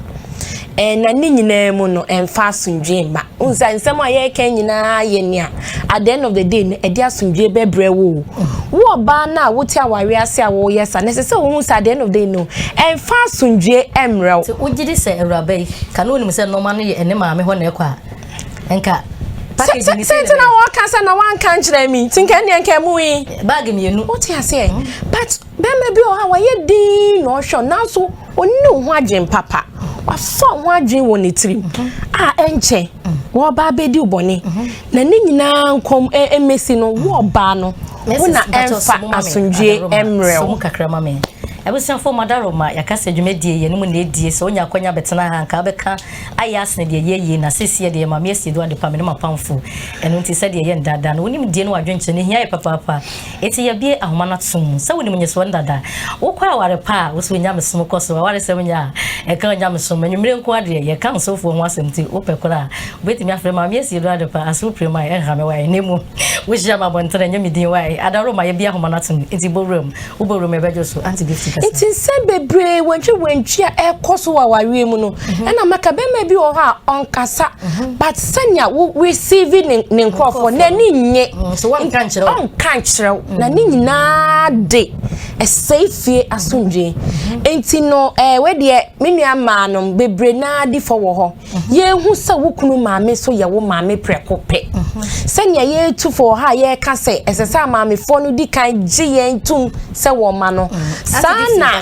Ɛɛ na ne nyinaa mu no, ɛmfa asomdwoe mma. Wohu sɛ nsɛm a yɛreka nyinaa yɛ nea at the end of the day no, ɛde asomdwoe bɛbrɛ wo o. Wo ɔbaa no a wote aware ase a wɔreyɛ sa no, ɛsɛ sɛ wohu sɛ at the end of the day no, ɛmfa asomdwoe mmerɛ wo. Sɛ wogye di sɛ awuraba yi, ka na onim sɛ nneɛma no yɛ ne maame hɔ na ɛkɔ a, nka package ne sɛ na wɔka sɛ na wanka nkyerɛ me nti nka ɛnneɛ nka ɛmu yi. Bag mmienu. Wote aseɛ? Mm. But Barima bi wɔ hɔ a wayɛ dinn na ɔhwɛ wo nanso ɔnni wo ho adwene papa. Wafa wo ho adwene wɔ ne tirim a ɛnkyɛ wɔba abɛdi wo bɔne. Na ne nyinaa nkɔm mmɛsi no wo ɔbaa no wo na ɛmfa asomdwoeɛ mmerɛ wo. Abusuafoɔ mu adaroma yɛaka sɛ dwumadie yɛ no mu na ɛdie sɛ wonya akwanya bɛtena ha nka wobɛka ayɛ asene deɛ ɛyɛ yie na seesie deɛ Maame Asiedu Adepa me ne m'apamfoɔ ɛno nti sɛdeɛ ɛyɛ ndaadaa no wonim die no wɔ adwenkyerɛ no hia yɛ papaapa Enti yɛabue ahoma no atom mu sɛ wonim nyesoɔ no dada. Wokɔ aware pa a, wosɔ onyamesom kɔ so. Awaresɛm nyɛ a ɛka onyamesom. Anwummere nko ara deɛ, yɛka ɔsɔfoɔ ho asɛm nti, wopɛ korɔ a, wobɛtumi afrɛ Maame Asiedɔ adepa, Asew Prem a ɛnha me wae. Na mmom, wohyia me abɔntene, ɛnyɛ me din wae. Ada Roma, yɛabue ahoma no atom, enti bɔ wuram. Wobɔ wuram a, ɛbɛdwo so. Auntie Gifty kasa. Enti nsɛm bebree wantwiwantwi a ɛrekɔ so wɔ awareɛ mu no, ɛna mɛka bɛrima bi wɔ hɔ a ɔnkasa but sɛnea wo receive ne ne nkurɔfoɔ n'ani nye ɔnka nkyerɛ wo na ne nyinaa de ɛsɛe fie asomdwee nti no ɛɛ eh, wedeɛ me nua mmaa no bebree naa di fɔ wɔ hɔ yɛhu sɛ wo kunu maame nso yɛ wo maame prɛko pɛ sɛnea yɛretu fɔ wɔ ha a yɛreka sɛ ɛsɛ sɛ amaamefoɔ no di kan gye yɛn tom sɛ wɔn ma no saa na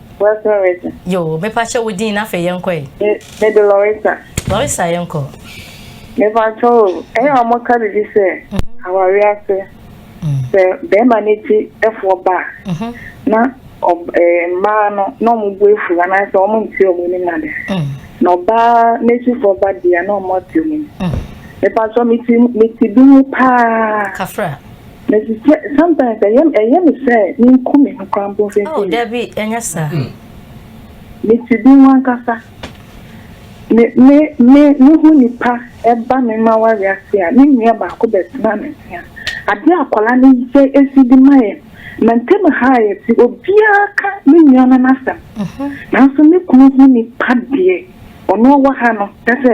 West Norwegian. Yoo, mepa kyɛ wo din na afei yɛn kɔ ɛ. Me, me de Lorisa. Lorisa yɛn kɔ. Mepa kyɛ o, ɛyɛ a wɔn ka bibi sɛ, mhm. awari ase, mm. sɛ bɛrima ne ti ɛfoɔ ba, mhm. na eh, mmaa no na wɔn bu efu anaasɛ wɔn nti wɔn anim ade, mm. na ɔbaa n'akyifoɔ ba deɛ na wɔn ate wɔn anim. Mepa kyɛ me ti me ti bi mu paa. Kafra. Mesi sɛ sometimes ɛyɛ ɛyɛ me sɛ menku me ho koraa mpo Oh, mfimfini. dabi, ɛnyɛ saa. Me ti bi ho ankasa. Me me me me ho nipa ɛba me mmawa wiase a, me nua baako bɛtena me nkyɛn. Adeɛ a akwadaa no yɛ esi de ma yɛn, ma ntam ha a yɛte, obiara ka me nua no n'asɛm. Nanso me kunu ho nipa deɛ, ɔno ɔwɔ ha no, kyerɛ sɛ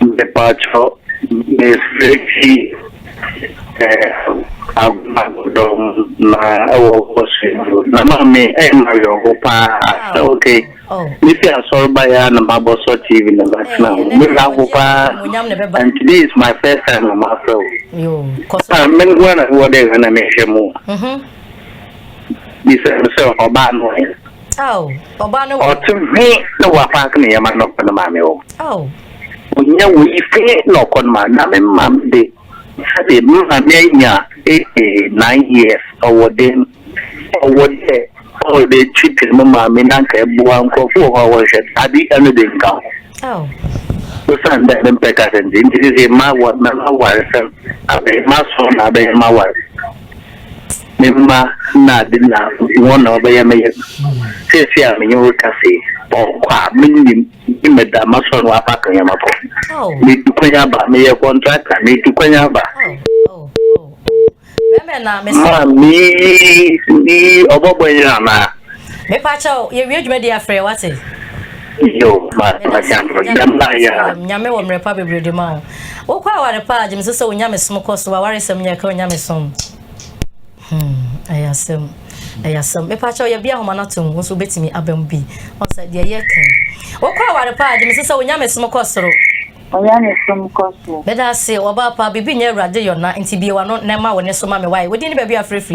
Mepakyɛw, mefrɛ fi Agumadɔm na ɛwɔ Ɔsrɛdwo. Na maame ɛyɛ me awerɛhow paa sɛ okay mefi asɔre baeɛ ara na mabɔ sɔ TV na matena ho. Me werɛ ahow paa and today is my first time a mafrɛ wo. Ah, me nko ara na mewɔ dɛ Ghana mehwɛ mu. Bisa me sɛ ɔbaa no ɛ? Ao, ɔbaa no. Ɔte hwe na wapaake ne yɛma no kɔ no maame hɔ. Ao. Ɔnya wei hwe na ɔkɔ no maame. Na me maame de, sɛdeɛ me maame anya eighty nine years, ɔwɔ den. Ɔwɔ dɛ ɔde kyipiri me maame na nka ɛboa nkurɔfo wɔ hɔ a wɔhwɛ no. Ade ɛno de nka ho. Ao. Osiane dɛ me mpɛ kasa nti, nti sese ma wɔ, mɛma awaresɛm. Abɛyɛ m'ason na abɛyɛ m'awaresɛm. Me mma na ade na wɔn na wɔbɛyɛ me yam. Seesei a me ne wo rekasa yi, ɔkɔ a minnim ne me da masɔ no aba Kanyama kɔ. Metu kwan aba, meyɛ kɔntrakta, metu kwan aba. Ma me yi ɔbɔbɔ yi anaa? Mepa kyɛw, yɛwie dwumadi afrɛ wate. Nyame wɔ mmerɛ pa bebree de ma wo. Wo kɔ aware pa a, gyeme so sɛ wo nyamesom kɔ so. Awaresɛm nyɛ ka wo nyamesom. Hmm, ɛyɛ asɛm. Ɛyɛ asɛm. Mepa kyɛw yɛ bi ahoma no atom, wo nso wobɛtumi aba mu bi. Ɔsɛ deɛ yɛ ka. Wo kɔ aware pa a, gyeme so sɛ wo nyamesom kɔ soro. Onyamesom kɔ so. Meda ase, ɔbaa pa, biribi nyɛ Awurade yɔ na nti bie w'ano na ɛma wo ne so ma me wae. Wo din ne baabi a frɛfiri.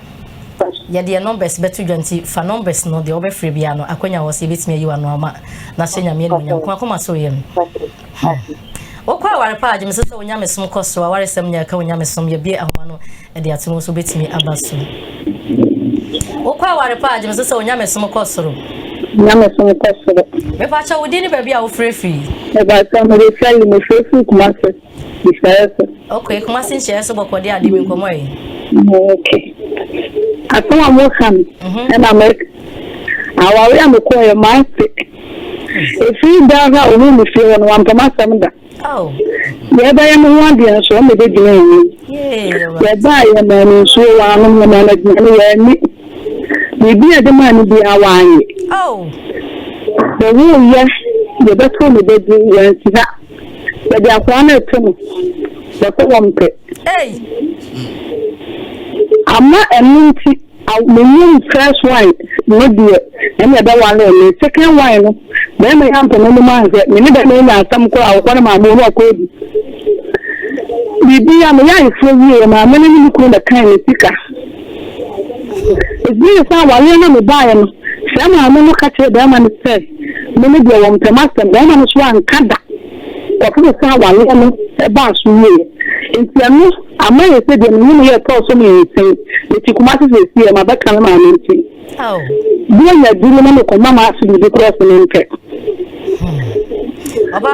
Yɛdeɛ numbers bɛto dwa nti fa numbers no deɛ wobɛfrɛ biaa no akwanya wɔ sɛ yɛbɛtumi ayi wano ama na hyɛ Nyame animuonyam nko akoma so yɛm hmm. Wokɔ aware paa gye mesɛ sɛ wo nyamesom kɔ so awaresɛm nyɛ ɛka wo nyamesom yɛbie ahoma no ɛde ato mu so wobɛtumi aba so wokɔ aware paa gye mesɛ sɛ wo nyamesom kɔ soro nyamesom kɔ soro mepakyɛ wo din ne baabi a wofrɛ firi mepakyɛ mede sɛle mefrɛ firi kuma se Okay, Kumasi nhyɛ so bɔkɔ de ade mi nkɔmɔ yi. Okay. Asɛm a mo ka no mhm. ɛna mɛ awari a mekɔ yɛ maa se efiri da ha ohun mi fie hɔ no wa mpɛm asɛm da. Oh. Yɛ bɛyɛ mo ho adeɛ nso ɔmo bɛ gyina yɛn mu. Yɛ ba yɛ mɛ no nsuo wa ano yɛ mɛ no gyina no yɛ ni. Biribi a ɛde maa no bi a wa ayɛ. Oh. Bɛ wo yɛ yɛ bɛ to ne bɛ di yɛn ti ha. Yɛde akoa no reto no, wɔsɛ wɔmpɛ. Ei! Ama ɛno nti, aw, me num first wine no deɛ, ɛnna ɛbɛware me. Second wine no, barima yi ampɛ m'anom anhwɛ. Me ne barima yi nya asɛm koraa a, ɔkɔ ne maame hɔ na ɔkɔ adi. Biribi a meyɛ ayeforɔ wieeɛ, maame no ne me kunu bɛkan me sika. Ɛsiane sɛ awareɛ no a mebaeɛ no, saa maame no ka kyerɛɛ barima no sɛ, Me ne deɛ wɔmpɛ m'asɛm. Barima no nso anka da. Nkurɔfo bɛsan awareɛ no baa so wieeɛ. Enti ɛno ama ayɛ sɛ deɛ me ne no yɛ ɛtɔɔ so mmiɛnsa yi. Mete Kumasi seesei, mabɛka me maame nti. Berenya duru na mekɔma m'ase biribi koraa sɛ mempɛ.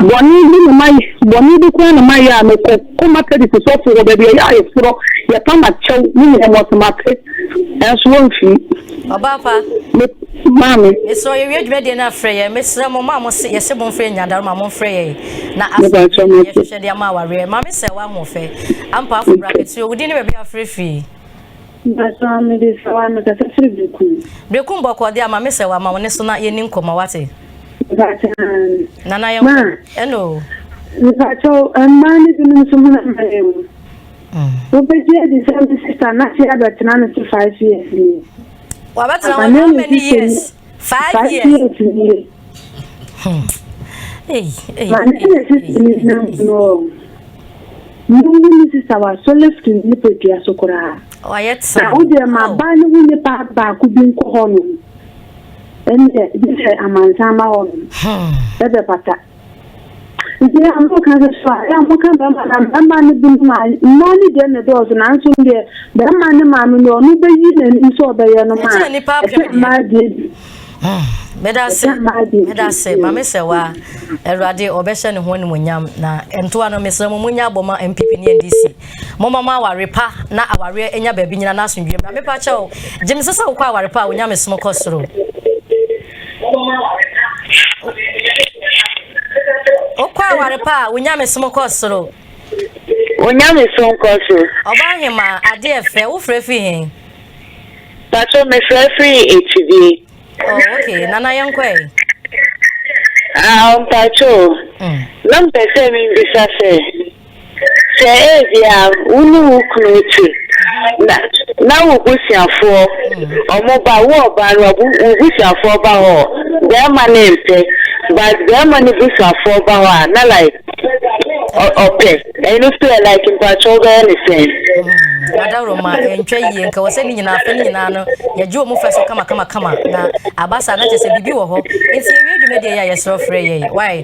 Bɔne bi na mayɛ, bɔne bi koraa na mayɛ a mekɔ kɔ Methodist sɔfo hɔ baabi a ɛyɛ ayeforɔ, yɛpa m'akyɛw ne nneɛma ɔsɛ mate, nanso wɔmfii. Ɔbaa pa. Me, maame. Mesrɛ yɛ wie dwumadie no afrɛ yɛ mesrɛ mo ma mo se yɛ se mo nfrɛ nyadaro ma mo nfrɛ yɛ na afrɛ yɛ yɛ hwehwɛ de ama awareɛ maame sɛ wa ho fɛ ampa afo bra kɛtiri o wudin ne baabi afrɛ firi. Mpatsɔ me de sɛ wa me kasa firi brekum. Brekum bɔkɔ de ama me sɛ wa ma wo ne so na yɛ ni nkɔmɔ wate. Mpatsɔ maame. Nana yɛ nkɔ ɛna o. Mpatsɔ mmaa ne binom so ho na mma yɛ mu. Wobɛgye adi sɛ me sista Naty abɛtena no so five years nie? Wabɛtena hɔ how many years? Five years nie. Ma ne ne sista ni na mmuo o. Mmuo ne ne sista wa so lift ne nipadua so koraa. Wayɛ tena. Na wodeɛ ma oh. baa ne ho nipa baako bi nkɔ hɔ nom. Ɛnneɛ gye sɛ amansan ma hɔ nom. Hmm. Ɛbɛpata. Nti na moka sɛ so a, ɛyɛ a moka mmarima anaa mmarima no binom a, mmaa no deɛ na ɛdɔɔso nanso deɛ barima ne maame no ɔno bɛyi n'anim sɛ ɔbɛyɛ no ma a, ɛkyɛ mmaa deɛ bi. Medase, medase, maame sɛ wa, Awurade ɔbɛhyɛ ne ho animonyam na ntoa no mesrɛ mo munya abɔ ma MPP ne NDC. Mo ma aware pa na aware anya baabi nyina na asomdwe mmra. Mepa kyɛw, gye me sɛ sɛ wokɔ aware pa a onyame som kɔ soro. Wokɔ aware pa a, wo nyamesom kɔ soro. Wo nyamesom kɔ so. Ɔbaa hemaa, ade ɛfɛ, wo frɛ firi hen? Pacho, me frɛ firi Ekyidie. Oh, okay, nana yɛn kɔ ɛ. Ah, mpacho, mm. na mpɛ sɛ mi bisa sɛ. Sɛ ebia wo ne wo kunu te, na na wo busuafoɔ wɔba, wo ɔbaa no wo busuafoɔ ba hɔ, barima no mpɛ, but barima no busuafoɔ ba hɔ a, na like ɔpɛ, ɛno nso yɛ like mpakyɛ wobɛyɛ ne sɛn? Hmm, adaworoma ɛntwa yie, nka wɔ sɛ ne nyinaa afɛ ne nyinaa no yɛgye wɔn fa so kama kama kama, na aba saa na kyɛ sɛ biribi wɔ hɔ, nti yɛwie dwumadie yɛ a yɛsrɛ frɛ yɛn, why?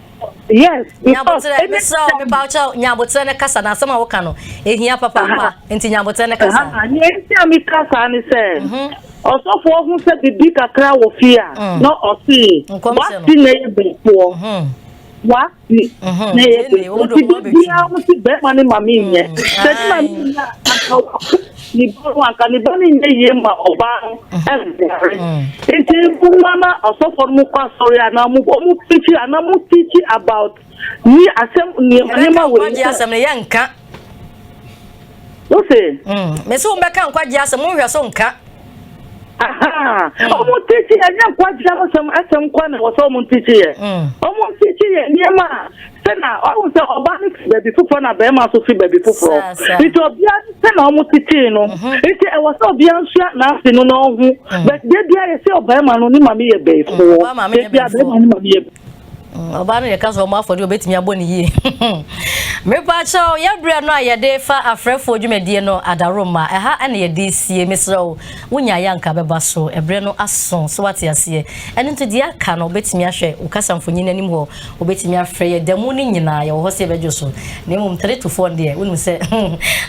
yes nyaboterɛ mesrɛ wo mepa wokyɛ nyaboterɛ no kasa na asɛm a woka no ɛhia papapa nti nyaboterɛ no kasa neɛ nti a meka saa ne sɛ mhm. ɔsɔfoɔ ho sɛ biribi kakra wɔ fie a mm. na ɔsee wasi na yɛ bɛfoɔ mhm. wasi mhm. na yɛ bɛfoɔ nti biribiaa wo se bɛrima ne ma menyɛ sɛ ne ma menyɛ a Ne ba no anka ne ba no nyɛ yie ma ɔbaa no ɛnware. Nti mma na ɔsɔfo no kɔ asɔre a na ɔmo ɔmo preachi a na ɔmo teachi about ni asɛm nneɛma nneɛma wɔ yi. Asɛm no yɛ nka. Wose. Mesi wo bɛka nkwagye asɛm wo nhwɛ so nka. wɔn tikyi yɛ nyɛ nkwagye asɛm asɛm kɔ na wɔsɛ wɔn tikyi yɛ wɔn tikyi yɛ nneɛma a sɛ na ɔwɔ sɛ ɔbaa no fi baabi foforɔ na bɛrima nso fi baabi foforɔ nti ɔbea no sɛ na wɔn tikyi no nti ɛwɔ sɛ ɔbea nsua n'ase no na ɔho bɛtɛ bia yɛ sɛ ɔbɛrima no ne maame yɛ bɛyifoɔ bɛbia bɛrima no maame yɛ bɛyifoɔ. Mm, ɔbaa no yɛka sɛ ɔmo afɔdeɛ ɔbɛtumi abɔ ne yie. Mepakyɛw, yɛ berɛ no a yɛde fa afrɛfoɔ dwumadie no Adaroma, ɛha na yɛde sie. Mesrɛ wo, wonyaeɛ anka bɛba so. Ɛberɛ no aso, so wate aseɛ. Ɛno nti, deɛ aka no, wobɛtumi ahwɛ wo kasamfonyin no anim hɔ. Wobɛtumi afrɛ yɛ da mu no nyinaa, yɛwɔ hɔ sɛ yɛbɛdwo so. Na mmom three to four no deɛ, wonim sɛ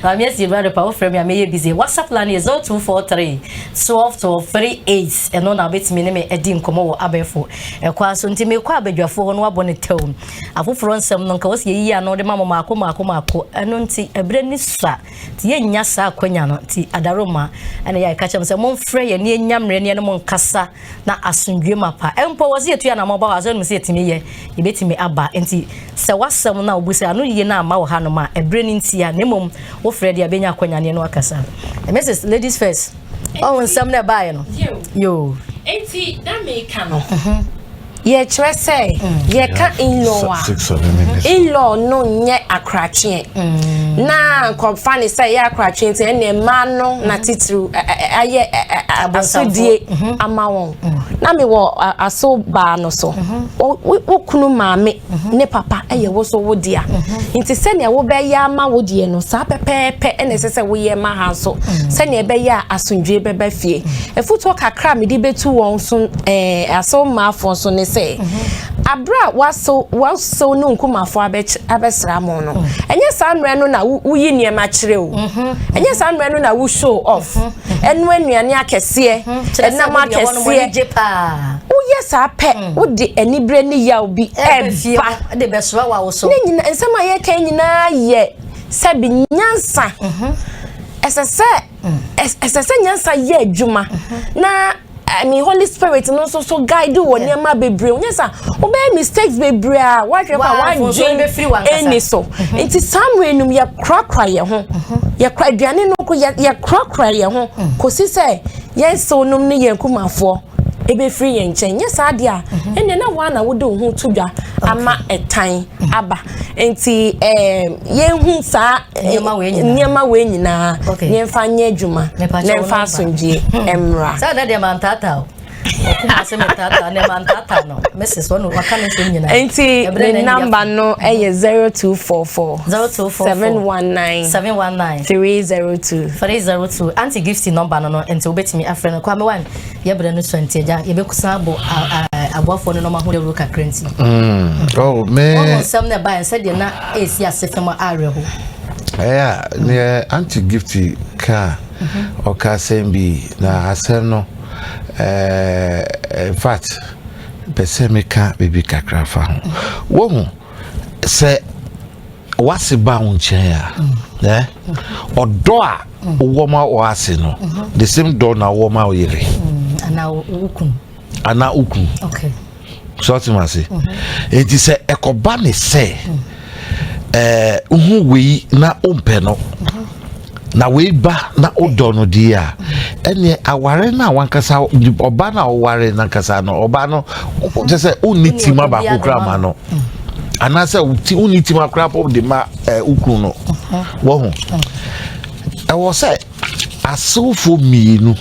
Maame Asie no adepa, wofrɛ me a mɛyɛ busy. WhatsApp line no yɛ 0243 12 12 38. Ɛno na wobɛtumi ne me adi nkɔmmɔ wɔ abɛɛfo Ɛkwan so nti mekɔ abadwafoɔ hɔ no wabɔ ne tɛw mu. Afoforɔ nsɛm no nka wɔsi yɛyi ano de ma mo maako maako maako. Ɛno nti ɛberɛ ni so a nti yɛnnya saa akwanya no nti Adaroma ɛna yɛ a ɛka kyerɛ mo sɛ momfrɛ yɛn ne yɛnya mmerɛ ne yɛne mo nkasa na asomdwie ma pa. Mpo wɔsi yɛtu yɛn anamɔ ba hɔ asɔre no mu sɛ yɛtumi yɛ yɛbɛtumi aba nti sɛ wasɛm no a wobu sɛ ano yie no amma wɔ hanom a ɛberɛ no ntia na mmom wofrɛ deɛ a bɛnya akwanya ne yɛne wakasa. Mrs. Ladies First. ɔwɔ nsɛm na ɛbaeɛ no yoo eti na meka no yɛkyerɛ sɛ yɛka inlaw a inlaw no nyɛ akorakyeɛ mm. na nkɔmfa ne sɛ ɛyɛ akorakyeɛ nti ɛne mmaa no mm-hmm. na titiriw ayɛ asodie mm-hmm. ama wɔn mm. na mewɔ aso baa no so mm-hmm. wo kunu maame ne papa yɛ wo so wo dea nti sɛnea wobɛyɛ ama wo deɛ no saa pɛpɛɛpɛ na ɛsɛ sɛ woyɛ ma ha nso sɛnea ɛbɛyɛ a asomdwoe bɛba fie afutuo kakra a mede bɛtu wɔn so ɛɛ eh, asew mmaafoɔ so ne sɛ abere a wasew wasew ne nkumafoɔ abɛsra mo no ɛnyɛ saa mmerɛ no na woyi nneɛma kyerɛ o ɛnyɛ saa mmerɛ no na wo show off ɛnoa nnuane akɛseɛ ɛnam akɛseɛ woyɛ saa pɛ hmm. wode aniberɛ ne yaw bi ɛba ne nyina nsɛm a yɛka nyinaa yɛ sɛ bi nyansa mhm. ɛsɛ sɛ hmm. ɛsɛ sɛ nyansa yɛ adwuma mhm. na ɛmi holy spirit no nso so guide wɔ nneɛma bebree onyɛ sa wobɛyɛ mistakes bebree a wahwɛ kɔ a wadwen ɛni so mhm. nti saa mmerɛ num yɛ korakora yɛn ho mhm. yɛ kora aduane no ko yɛ korakora yɛn ho mhm. kɔsi sɛ yɛn nsew nom ne yɛn kumafoɔ ebɛfiri yɛn nkyɛn nyɛ saa deɛ a ɛnneɛ na wɔn a na wode wo ho to dwa ama ɛtan aba. nti yɛhu saa nneɛma wei nyinaa yɛmfa nyɛ adwuma na ɛmfa asomdwie hmm. mmra sɛ na deɛ mantaata o nti ne namba no yɛ 0244 719 302 302 anti gifty nɔmba no no nti wobɛtumi afrɛ no kwamewan Yɛ berɛ no sua nti agya yɛbɛkusan abɔ aboafoɔ no nɔma ho dawuro kakra nti mm. oh, wɔwɔ nsɛm no ɛbaeɛ sɛdeɛ na ɛsi ase fam awerɛho ɛyɛ neɛ anti gift ka mhm. ɔka asɛm bi na asɛm no eh, in fact pɛ sɛ meka biribi kakra fa ho mhm. wohu sɛ w'ase ba wo nkyɛn a ɛ ɔdɔ a wowɔ ma w'ase no the same dɔ na wowɔ ma wo yere anaa wokun anaa wokun so ɔte ma se enti sɛ ɛkɔba ne sɛ ɛɛ wohu wei na wompɛ no na wei ba na wodɔ no deɛ a ɛneɛ aware no a wankasa ɔba no a woware nankasa no ɔba no kyɛ sɛ wonni tim abaako kora ma no anaasɛ wonni tim akora po de ma wokunu no wahu ɛwɔ sɛ asewofoɔ mmienu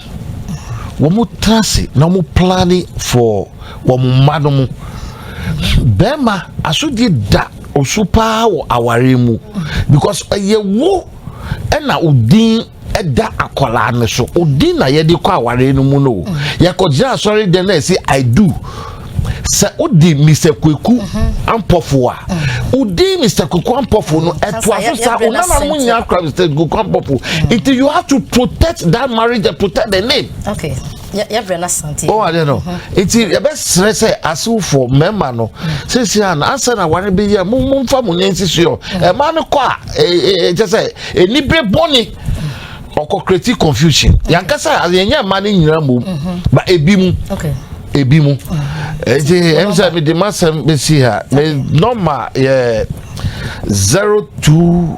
wɔn tena ase na wɔn plane for wɔn mma no mu bɛrima asodie da osu paa wɔ aware mu because ɛyɛ wo ɛna odin ɛda akwadaa no so odin na yɛde kɔ awareɛ no mu no o yɛkɔgyina asɔre dɛm na ɛsi i do sɛ odi mr kweku ampɔfo a odi mr kweku ampɔfo no ɛto aso sa onana mo nya akora mr kweku ampɔfo nti you have to protect that marriage and protect the name. Okay. yɛbrɛ no asante wɔn adeɛ no nti yɛbɛsrɛ sɛ asewfoɔ mmarima no sisi a na asɛ na ware bi yɛ mo mo nfa mo nyɛ nsisi yɔ ɛmaa no kɔ a ɛkyɛ sɛ ɛnibire bɔne ɔkɔ creative confusion yankasa yɛnyɛ mmaa no nyinaa mmom ba ebi mu ebi mu ɛti ɛm sɛ mede masɛm bɛsi ha me nɔma yɛ zero two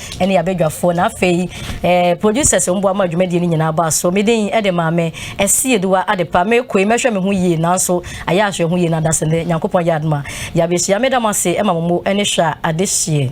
ɛne abadwafoɔ na afei eh, producers mmoa ma dwumadie no nyinaa baa so medin ɛde maame ɛsi aduwa adepa mekoe mɛhwɛ me ho yie nanso ayɛ ahwɛ ho yie na adase ne nyankopɔn yɛ adoma yɛabɛhyia meda mo ase ɛma mo mo ɛne hwɛ a ade hyeɛ